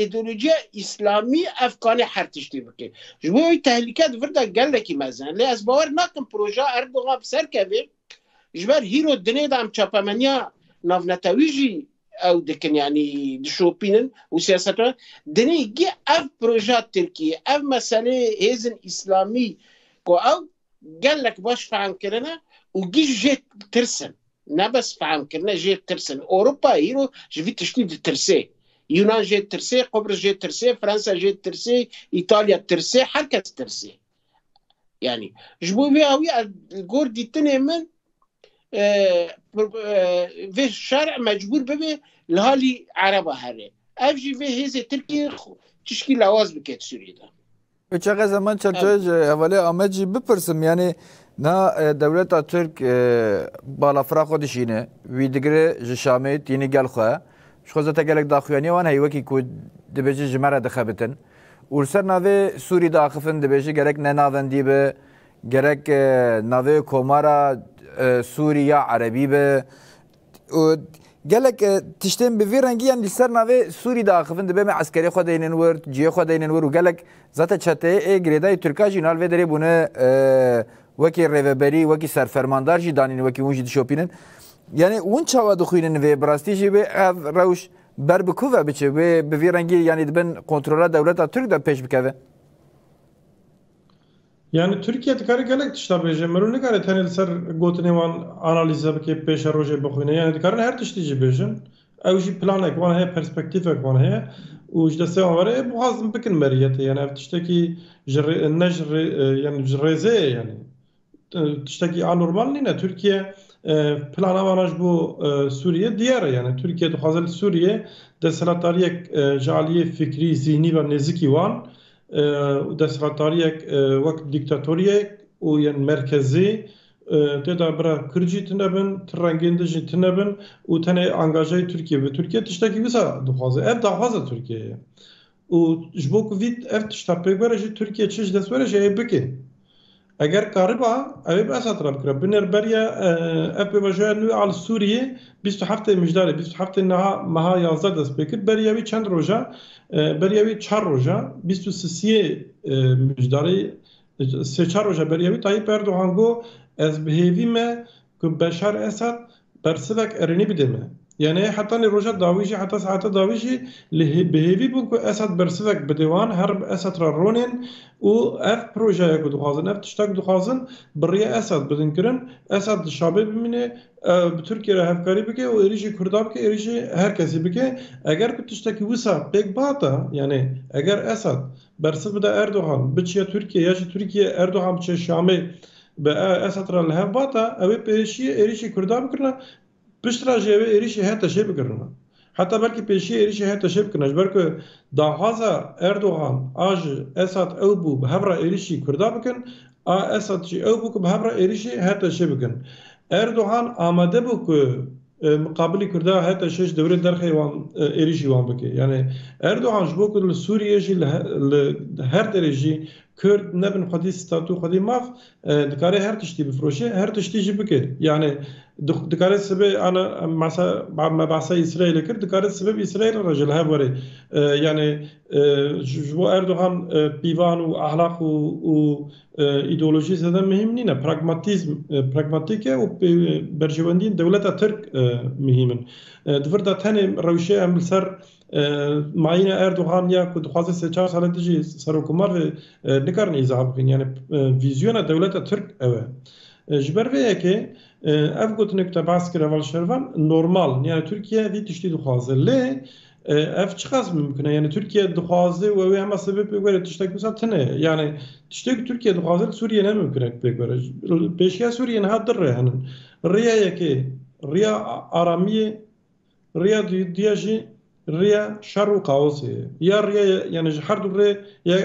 îdeolojiya îslamî ev kanê her tiştî bike. Ji bo wî tehlîke di vir de gelekî mezin e. Lê ez bawer nakim projeya Erdogan bi ser kevê. Ji ber hîro dinê de em çapemeniya navnetewî jî ew dikin yanî dişopînin û siyaset dinê gê ev projeya Tirkiyê ev meseleyê hêzin îslamî ku ew gelek baş fehm kirine û giş jê tirsin. Nebes fehm kirine jê tirsin. Ewropa îro ji vî tiştî ditirsê. Yunan jê tirsê, Qubris jê tirsê, Fransa jê tirsê, Îtalya tirsê, her kes tirsê. Yani ji bo vê awî gor dîtinê min vê şer mecbûr bibê li halî ereba herê. Ev jî vê hêzê Tirkiyê tişkî lawaz bike Sûriyê de. Çaxe Zeman Çerçoyê ji hevalê Amed jî bipirsim yanî na dewleta Tirk balafira xwe dişîne, wî digire ji Şamê tînî gel xwe. Ji xwe zete gelek daxuyanîya wan heye wekî ku dibêje ji me re dixebitin û li ser navê Sûrî diaxifin dibêje gerek ne navendî be, gerek navê komara Sûrî ya Erebî be. û gelek tiştên bi vî rengî yan li ser navê Sûrî de axivin dibe me eskerê xwe deynin wir, ciyê xwe deynin wir û gelek zate çeteyê ê girêdayî Tirkan jî nal vê derê bûne wekî rêveberî, wekî serfermandar jî danîn wekî hûn jî dişopînin. Yanî hûn çawa dixwînin vê bi rastî jî wê ev rewş ber bi ku ve biçe wê bi vî rengî yanî di bin kontrola dewleta Tirk de pêş bikeve? Yanî Tirkiye dikare gelek tişta bêje, mirov nikare tenê li ser gotinên wan analîze bike, pêşerojê bixwîne. Yanî dikarin her tiştî jî bêjin. Ew jî planek wan heye, perspektîfek wan heye û ji destê wan were ê bixwazin bikin meriyetê. Yanî ev tiştekî ji rê ne ji rê yanî ji rêzê ye yanî. Tiştekî anormal nîne. Tirkiye plana wan a ji bo Sûriyê diyar e. Yanî Tirkiye dixwaze li Sûriyê desthilatdariyek ji aliyê fikrî, zîhnî ve nêzikî wan û desthilatdariyek wek dîktatoriyek û yên merkezî tê de bira Kurd jî tune bin, ti rengên din jî tune bin û tenê angajeyê Tirkiyê bi. Tirkiye tiştekî wisa dixwaze. Ev daxwaza Tirkiyeyê ye û ji bo ku vî ev tişta pêk were jî Tirkiye çi ji dest were jî ê bike. Eger kariba, ew ê bi Esad re bikire. Binêr beriya ev pêvajoya nû a li Sûriyê bîst û heftê mijdarê bîst û heftê niha meha yazdeh dest pê kir. Beriya wî çend roj e? Beriya wî çar roj e. Bîst û sisiyê mijdarê sê çar roj e beriya wî. Tayyîp Erdogan got, Ez bi hêvî me ku Beşar Esad bersivek erênî bide me. Ya neyê hetanî roja dawî jî heta saeta dawî jî li bi hêvî bûn ku Esad bersivek bide wan, her bi Esad re ronên û ev projeya ku dixwazin, ev tişta ku dixwazin bi rêya Esad bidin kirin. Esad di şabê bimîne, bi Tirkiye re hevkarî bike û êrîşê Kurda bike, êrîşê her kesî bike. Eger ku tiştekî wisa pêk bihata, yanê eger Esad bersiv bida Erdogan biçiya Tirkiye ya jî Tirkiye Erdogan biçiya Şamê Bi Esed re li hev vata ew ê pêşiyê êrîşê Kurdan bikirina, pişt re jî ew ê êrîşê HTŞê bikirina. Heta belkî pêşiyê êrîşê HTŞê bikirina, ji ber ku daxwaza Erdogan a ji Esed ew bû bi hev re êrîşî Kurdan bikin, a Esed jî ew bû ku bi hev re êrîşî HTŞê bikin. Erdogan amade bû ku Miqabilî Kurda heta şeş dewrê derxê wan êrîşî wan bike. Yanî Erdogan ji bo ku li Sûriyê jî li her derê jî Kurd nebin xwedî statu xwedî maf dikare her tiştî bifiroşe her tiştî jî bike. Yanî dikare sibe ana me behsa Îsraîlê kir dikare sibe bi Îsraîlê re jî li hev were. Yanî ji bo Erdogan pîvan û ehlaq û Îdeolojî zêde muhîm nîne. Pragmatîzm pragmatîk e û berjewendiyên dewleta Tirk muhîm in. Di vir de tenê rewşê em li ser mayîna Erdogan ya ku dixwaze sê çar sale din jî serokomar be nikarin îzah bikin. Yanî vîzyona dewleta Tirk ew e. Ji ber vê yekê ev gotinê ku te behs kir hevalşervan normal in. Yanî Tirkiye vî tiştî dixwaze. Lê Ev çiqas mimkun e yani Tirkiye dixwaze û ew ê hema sebê pê were tiştek wisa tune ye. Yani tiştê ku Tirkiye dixwaze li Sûriyê ne mimkun e ku pê were. Pêşiya Sûriyê niha du rê hene. Rêya yekê rêya aramiyê, rêya duya jî rêya şer û kaosê ye. Ya rêya yani ji her du rê ya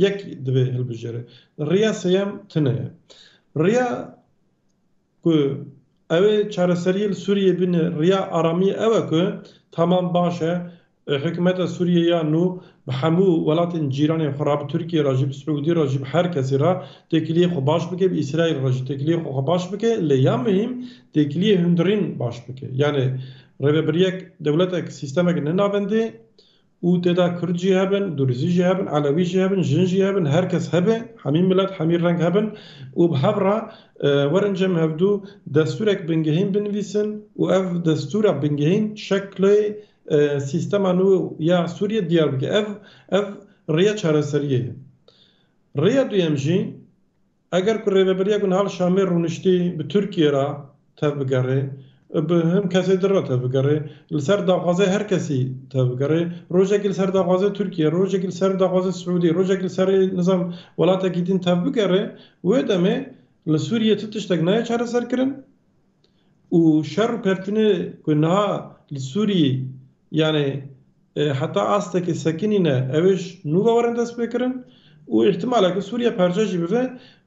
yek divê hilbijêre. Rêya sêyem tune ye. Rêya Ku ew ê çareseriyê li Sûriyeyê bîne, riya aramiyê ew e ku tamam baş e, hikûmeta Sûriyeyê ya nû bi hemû welatên cîranên xwe re, bi Tirkiyeyê re jî, bi Siûdiyê re jî, bi her kesî re têkiliyê xwe baş bike, bi Îsraîl re jî têkiliyê xwe baş bike, lê ya muhîm têkiliyê hundirîn baş bike. Yanê rêvebiryek, dewletek, sîstemek ne navendê û tê de kurd jî hebin, durizî jî hebin, elewî jî hebin, jin jî hebin, her kes hebe, hemî milet, hemî reng hebin û bi hev re werin cem hevdû destûrek bingehîn binivîsin û ev destûra bingehîn şeklê sîstema nû ya Sûriyê diyar bike. Ev ev rêya çareseriyê ye. Rêya duyem jî Eger ku rêveberiya ku niha li Şamê rûniştî bi Tirkiyê re tevbigerê û bi hin kesê din re tevbigerê, li ser daxwazê her kesî tevbigerê, rojekî li ser daxwazê Tirkiyê, rojekî li ser daxwazê Siûdî, rojekî li serê nizam welatekî din tevbigerê, wê demê li Sûriyê ti tiştek nayê çareserkirin û şer û pevtinê ku niha li Sûriyê yanê heta astekê sekinî ne ew ê ji nû ve werin destpêkirin û îhtimal e ku Sûriye parçe jî bibe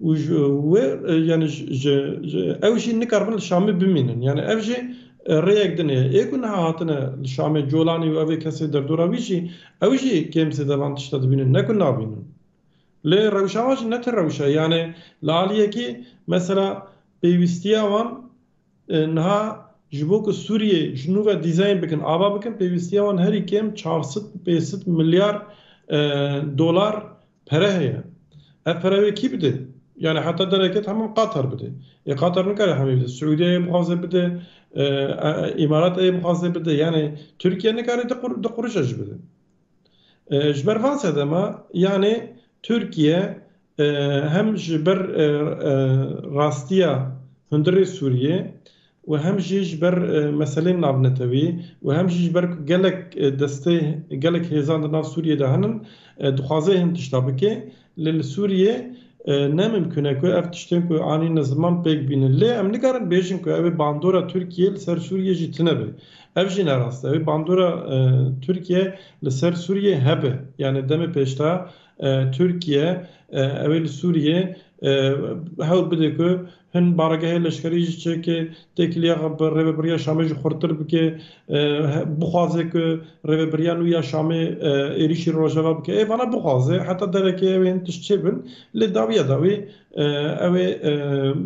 û ji wê yanê ji ew jî nikaribin li Şamê bimînin yanê ev jî rêyek din heye. Ê ku niha hatine li Şamê Colanî û ev ê kesê derdora wî jî ew jî kêm zêde van tişta dibînin ne ku nabînin. Lê rewşa wan jî ne ti rewşe yanê li aliyekî mesela Pêwîstiya wan niha ji bo ku Sûriyê ji nû ve dîzeyên bikin ava bikin pêwîstiya wan herî kêm çar sed û pênc sed milyar dolar pere heye. Ev pere wê kî bide? Yanî heta dereke temam Qatar bide. Ê Qatar nikare hemî bide. Siûdiyeyê bixwaze bide, Îmarateyê bixwaze bide. Yanî Tirkiye nikare du qurûca jî bide. Ji ber van sedema yanê Tirkiye hem ji ber rastiya hundirê Sûriyê û hem jî ji ber meselên navnetewî û hem jî ji ber ku gelek destê gelek hêzan di nav Sûriyê de hene dixwaze hin tişta bike, Lê li Sûriyê ne mimkûn e ku ev tiştên ku anîne ziman pêk bînin. Lê em nikarin bêjin ku ew ê bandora Tirkiyê li ser Sûriyê jî tune be. Ev jî ne rast e. Ew ê bandora Tirkiyê li ser Sûriyê hebe. Yanî demê pêşda Tirkiye ew ê li Sûriyê hewl bide ku Hin baregehê leşkerî ji çekê têkiliya xwe bi Rêveberiya Şamê jî xurttir bike, bixwaze ku Rêveberiya nû ya Şamê êrîşî li Rojava bike. Ê vana bixwaze heta derekê ew ê hin tişt çêbin lê dawiya dawî ew ê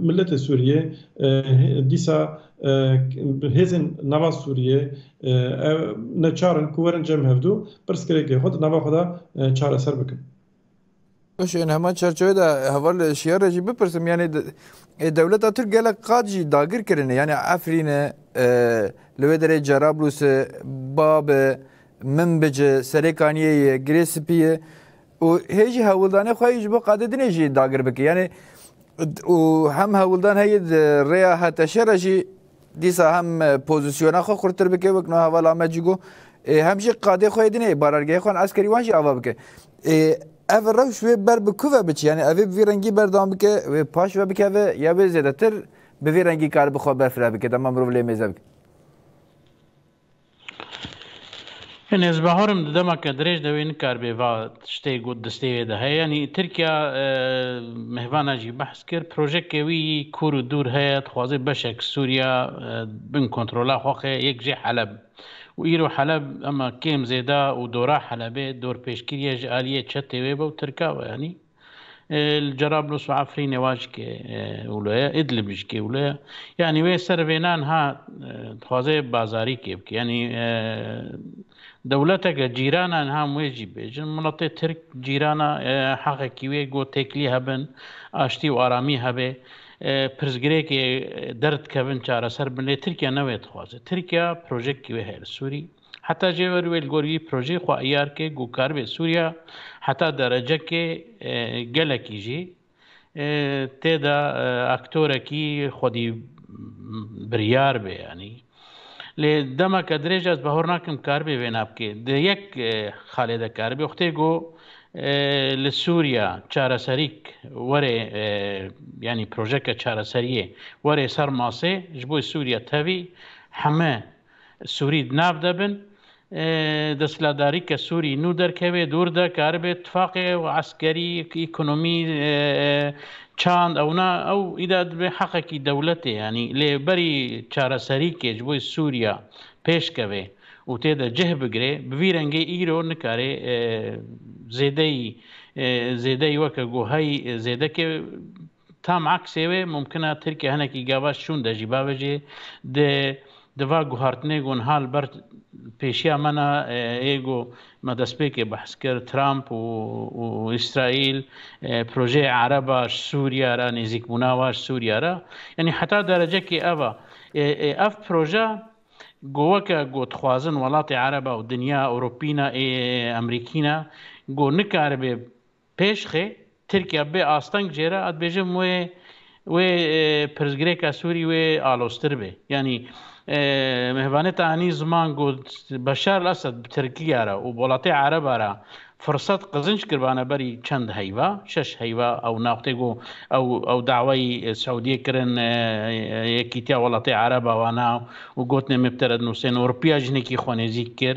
miletê Sûriyê dîsa hêzên nava Sûriyê neçar in ku werin cem hevdu pirsgirêkê xwe di nava xwe de çareser bikin. Baş ên heman çerçevê de heval li şiyarê jî bipirsim yanî ê dewleta Tirk gelek qat jî dagir kirine yanî Efrîne li wê derê Cerablûse Babe Minbice Serêkaniyê ye Girê Spî ye û hê jî hewldanê xwe ji bo qadedinê jî dagir bike yanî û hem hewldan heye di rêya HTŞ re jî Dîsa hem pozisyona xwe xurtir bike wek no heval ame cî got ê hem jî qadê xwe yê dinê barargehê xwe eskerî wan jî ava bike. Ê ev rewş wê ber bi ku ve biçe yanî evê bi vî rengî berdewam bike wê paş ve bikeve ya wê zêdetir bi vî rengî karibe xwe berfireh bike dema mirov lê mêze bike. Enes Baharim di demeke dirêj de wê nikaribê va tiştê got di stêyê de heye. Yanî Tirkiya mehvana jî behs kir. Projeke wî yî kûr û dûr heye. Dixwaze beşek Sûriya bin kontrola xwe xe, yek jê Heleb. Û îro Heleb hema kêm zêda û dora Helebê dorpêşkirîye ji alîyê çetê wê be û Tirka be. Yanî. Li Cerablus û Efrînê wa jî kê û lo ye, Îdlib jî kê û lo ye. Yanî wê ser vê nan ha dixwaze bazarî kê bike. Yanî dewleteke cîrana niha em wê jî bêjin, miletê Tirk cîrana heqekî wê ku têkilî hebin, aştî û aramî hebê, pirsgirêkê derdikevin çareser bin lê Tirkiye ne wê dixwaze. Tirkiye projektî wê heye li Sûrî. Heta jê ver wê li gor yî projeyê xwe iyar kê ku karibe Sûriya heta derecekê gelekî jî tê de aktorekî xwedî biryar be yanî. Lê demeke dirêj ez bahor nakim karibe vêna bike. Di yek xalê de karibe xwedê ku li Sûriya çareserîk were yanî projeke çareseriyê were ser masê ji bo Sûriya tevî heme Sûrî di nav de bin. Desthilatdarî ke Sûrî nû derkevê dûr de karibe tifaqê ew eskerî, ekonomî, çand ew na ew îdia dibe heqekî dewletê yanî lê berî çareserîkê ji bo Sûriya pêş keve û tê de cih bigire bi vî rengê îro nikare zêdeyî zêdeyî weke guheyî zêdekê Tam aksê wê mumkin e Tirkiye hinekî gava şûn de jî bavêjê. Dê di va guhartinê ku niha li ber pêşiya me ne yê ku me destpêkê behs kir, Trump û Îsraîl projeyê ereb a ji Sûriye re, nêzîkbûna wan ji Sûriye re yanî heta derecekê ev e. Ev proje ku weke ku dixwazin welatê ereb û dinya ewropî ne ê emrîkî ne ku nikaribe Pêşxê, Tirkiya bê asteng jê re, a dibêjim wê wê pirsgirêka Sûrî wê aloztir bê. Yanî Mehvaneta Anî Ziman got, Beşar el Esed bi Tirkiya re û bi welatê Ereba re firsat qizinc kiribane berî çend heyva, şeş heyva ew naxtê ku ew ew dawayî Siûdiyê kirin Yekîtiya Welatê Ereba wana û gotinê me bi te re dinûsên Ewropiya jinekî xwe nêzîk kir.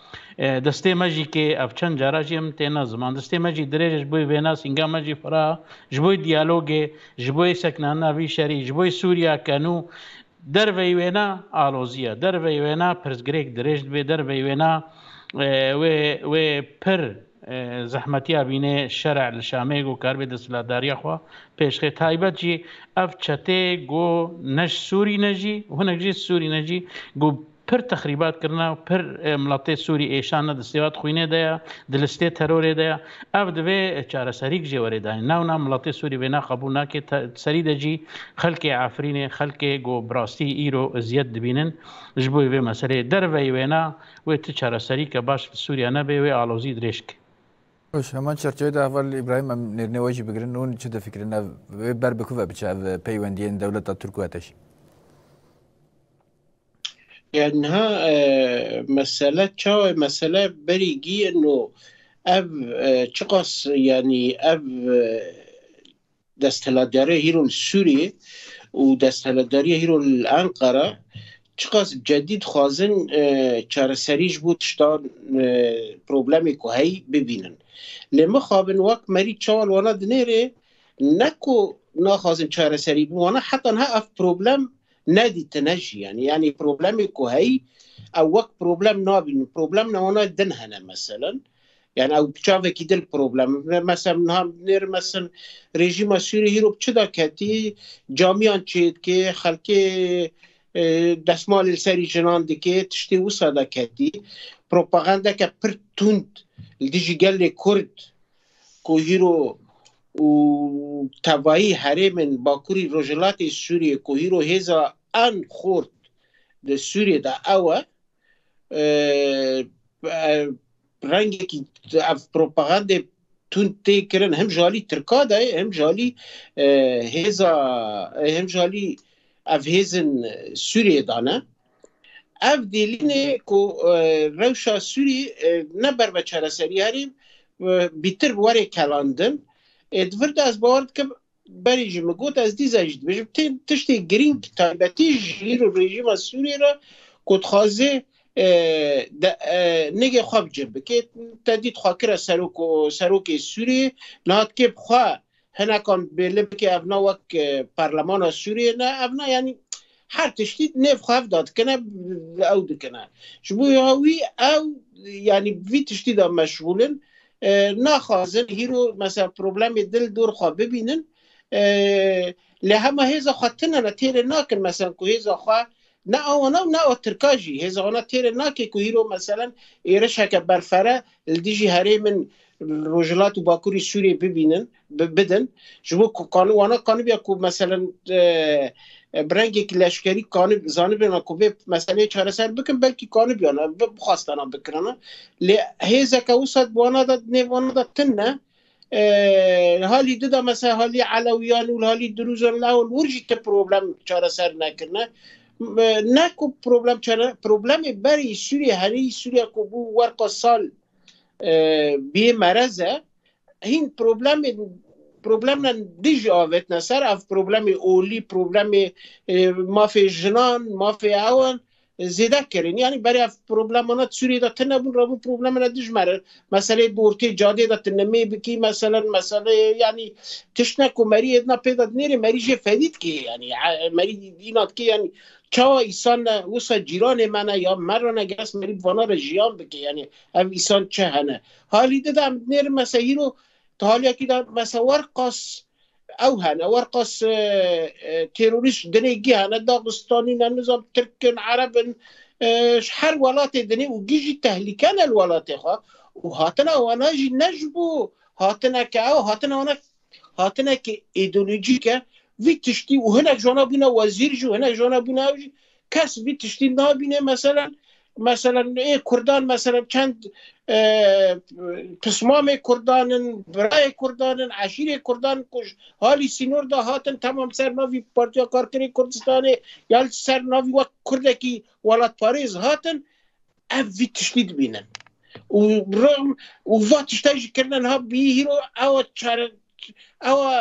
Destê me jî kê ev çend cara jî em têne ziman. Destê me jî dirêj e ji bo vêna sînga me jî fira, ji bo diyalogê, ji bo seknana vî şerî, ji bo Sûriya ke nû derveyî wêna alozî ye. Derveyî wêna pirsgirêk dirêj dibe, derveyî wêna wê wê pir zehmetiya bînê şer e li Şamê ku karibe desthilatdariya xwe pêşxê. Taybet jî ev çetê ku ne ji Sûrî ne jî hinek jî Sûrî ne jî ku Pir texrîbat kirine û pir miletê Sûrî êşan ne destêwat xwînê de ye, di listê terorê de ye. Ev divê çareserî kijê were danîn. Newna miletê Sûrî vêna qebûl nake. Serî de jî xelkê Efrînê, xelkê ku bi rastî îro eziyet dibînin ji bo vê meseleyê derveyî wêna wê ti çareserî ke baş li Sûrîya nebê wê alozî dirêj ke. Baş, heman çerçeveyê de heval Îbrahîm em nêrînê we jî bigirin. Hûn çi difikirin ev wê ber bi ku ve biçe ev peywendiyên dewleta Tirk û Eteşî? Ya niha mesele çawa mesele berî giyin û ev çiqas yanî ev desthilatdarê hîro li Sûriyê û desthilatdariyê hîro li Enqera çiqas cedî dixwazin çareserî ji bo tiştan problemê ku heyî bibînin. Lê mixabin wek merî çawa li wana dinêrê ne ku naxwazin çareserî bin wana heta niha ev problem Nedî tu ne jî yani yani problemê ku heyî ew wek problem nabîn problem ne wana din hene meselen yani ew çavekî dil problem mesel niha nêr mesin rejîma Sûrî hîro çi da ketî camiyan çêdikê xelkê e, desmalê li serî jinan dikê tiştê wisa da ketî propagandeke pir tund li dijî gelê kurd ku hîro û tevayî herêmên Bakurî Rojhilatê Sûriyê ku hîro hêza en xort di Sûriyê de ew e rengekî ev propagandê tund tê kirin him ji alî Tirka de him ji alî hêza him ji alî ev hêzin Sûriyê de ne Ev dêlînê ku rewşa Sûrî ne ber ve çareserî herî bîtir bi warê kelandin ê di vir de ez bawer dikim berê jî min got ez dîza jî dibêjim tê tiştê girîng taybetî ji îro rejîma Sûrî re ku dixwazê nigê xwe bi cih bikê te dît xwekira serok û serokê Sûrî niha dikê bi xwe Hinekan bêrlê bike ev na wek parlemana Sûriyê ne ev na yanî her tiştî nêv xwe hev da dikine ew dikine. Ji bo wî ew yanî vî tiştî da meşgûlin naxwazin hîro mesela problemê dil dor xwe bibînin lê hema hêza xwe tinene têrê nakin mesela ku hêza xwe Ne a wana û ne a tirka jî hêza wana têrê nake ku hîro meselen êrişeke berfere li dijî herêmên li Rojhilat û Bakurî Sûriyê bibînin, bidin. Ji bo ku qanû wana qanûbiya ku meselen bi rengekî leşkerî qanû zanibêna ku vê meseleyê çareser bikin belkî qanûbiyana bixwastana bikirina. Lê hêzeke wisa bi wana de nêv wana de tune. Li halî di de mesela halî Elewiyan û li halî Dirûzan li hol wir jî ti problem çareser nekirine. Ne ku problem çare problemê berî Sûriyê herî Sûriya ku bû werqa sal biyê merez e hîn problemê problemen dij avêtine ser ev problemê olî problemê mafê jinan mafê ewan zêde kirin. Yanî beriya problemana di Sûriyê de tune bûn, rabûn problemana dijmer in. Meseleyê bortê cadê de tu nimê bikî meselen, meseleyê yanî tiştine ku merî êdina pê de dinêrê merî jê fedî dike yanî. Merî înan dike yanî çawa îsan ne wisa cîranê me ne ya me re ne geres merî bi vana re jiyan bike yanî ev îsan çi hene. Halî di de em dinêrin mesela hîro di haliyekî de mesela werqas Ew hene werqas terorîst dinê gihane dagistanî ne nizam tirkin erebin ji her welatê dinê û gî jî tehlîke ne li welatê xwe û hatina wana jî ne ji bo hatineke ew hatina wana hatineke îdeolojîk e vî tiştî û hinek jona bûne wezîr jî hinek jona bûne ew jî Kes vî tiştî nabîne mesela mesela ê Kurdan mesela çend pismamê Kurdanin, birayê Kurdanin, eşîrê Kurdan ku halî sînor da hatin temam ser navî Partiya Karkerê Kurdistanê ya ser navî wek Kurdekî welatparêz hatin Ev vî tiştî dibînin û rewm û va tiştê jî kirine niha bî hîro ewa çare ewa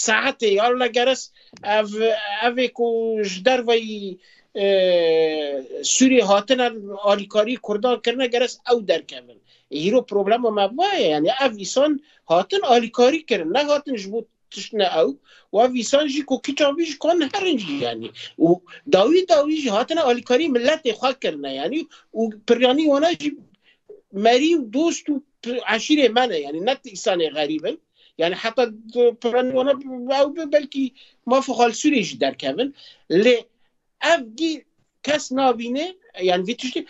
saetê ya li geres ev evê ku ji derveyî e, Sûriyê hatine alîkarî Kurdan kirine geres ew derkevin. Hîro problema me va ye yani ev îsan hatin alîkarî kirin ne hatin ji bo tişt ne ew wa vîsan jî ku kiçan vî ji kon herin jî yanî û dawî dawî jî hatine alîkarî milletê xwe kirine yanî û piryanî wana jî merî û dost û eşîrê me ne yanî ne îsanê xerîb in yani heta piryanî wana ew bi belkî mafê xalsûrê jî derkevin lê ev gî kes nabînê yan vî tiştî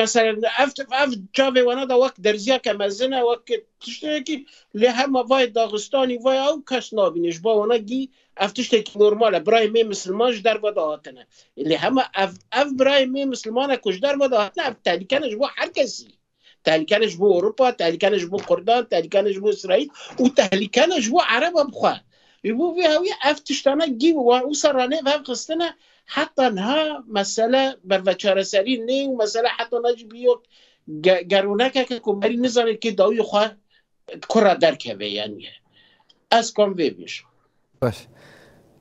mesela ev ev çavê wana da wek derziya ke mezin e wek tiştekî lê hema vayê daxistanî vay ew kes nabînê ji bo wana gî ev tiştekî normal e birayê mê misilman ji derve da hatine lê hema ev ev birayê mê misilman e ku ji derve da hatine ev tehlîkene ji bo her kesî Tehlîkene ji bo Ewropa, tehlîkene ji bo Kurdan, tehlîkene ji bo Îsraîl û tehlîkene ji bo Ereba bi xwe. Ji bo vê hewî ev tiştane gî bi wan wisa re nêv hev xistine heta niha mesele berveçareserî nê û mesele heta niha jî bi yok geronekeke ku merî nizane kê dawiyê xwe kura derkeve yaniye. Ez kam vê bêjim. Baş.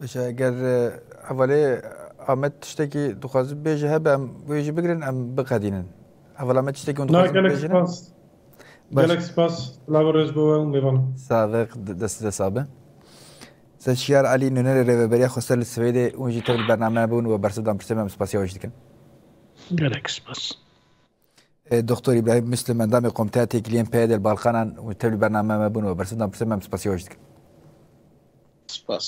Baş e, ger e, hevalê Amet tiştekî dixwazin bêje hebe em wê jî bigirin em biqedînin. Heval Amet tiştekî hûn Na dixwazin gelek bêjin. spas. Baş. Gelek spas. Lava rêz bo we û mêvan. Sadık dest dest abi. Sen Şiyar Ali Nuneri Reveberiya Xosel li Swêdê û jî tev li bername bûn we bersiv dan pirsê me em spasîya wê jî dikin. Gelek spas. Doktor Îbrahîm Muslim endamê Komteya Têkiliyên PYD li Balkanan û tevlî bername me bûn we bersiv dan pirsê me em spasî wê ji dikim. Spas.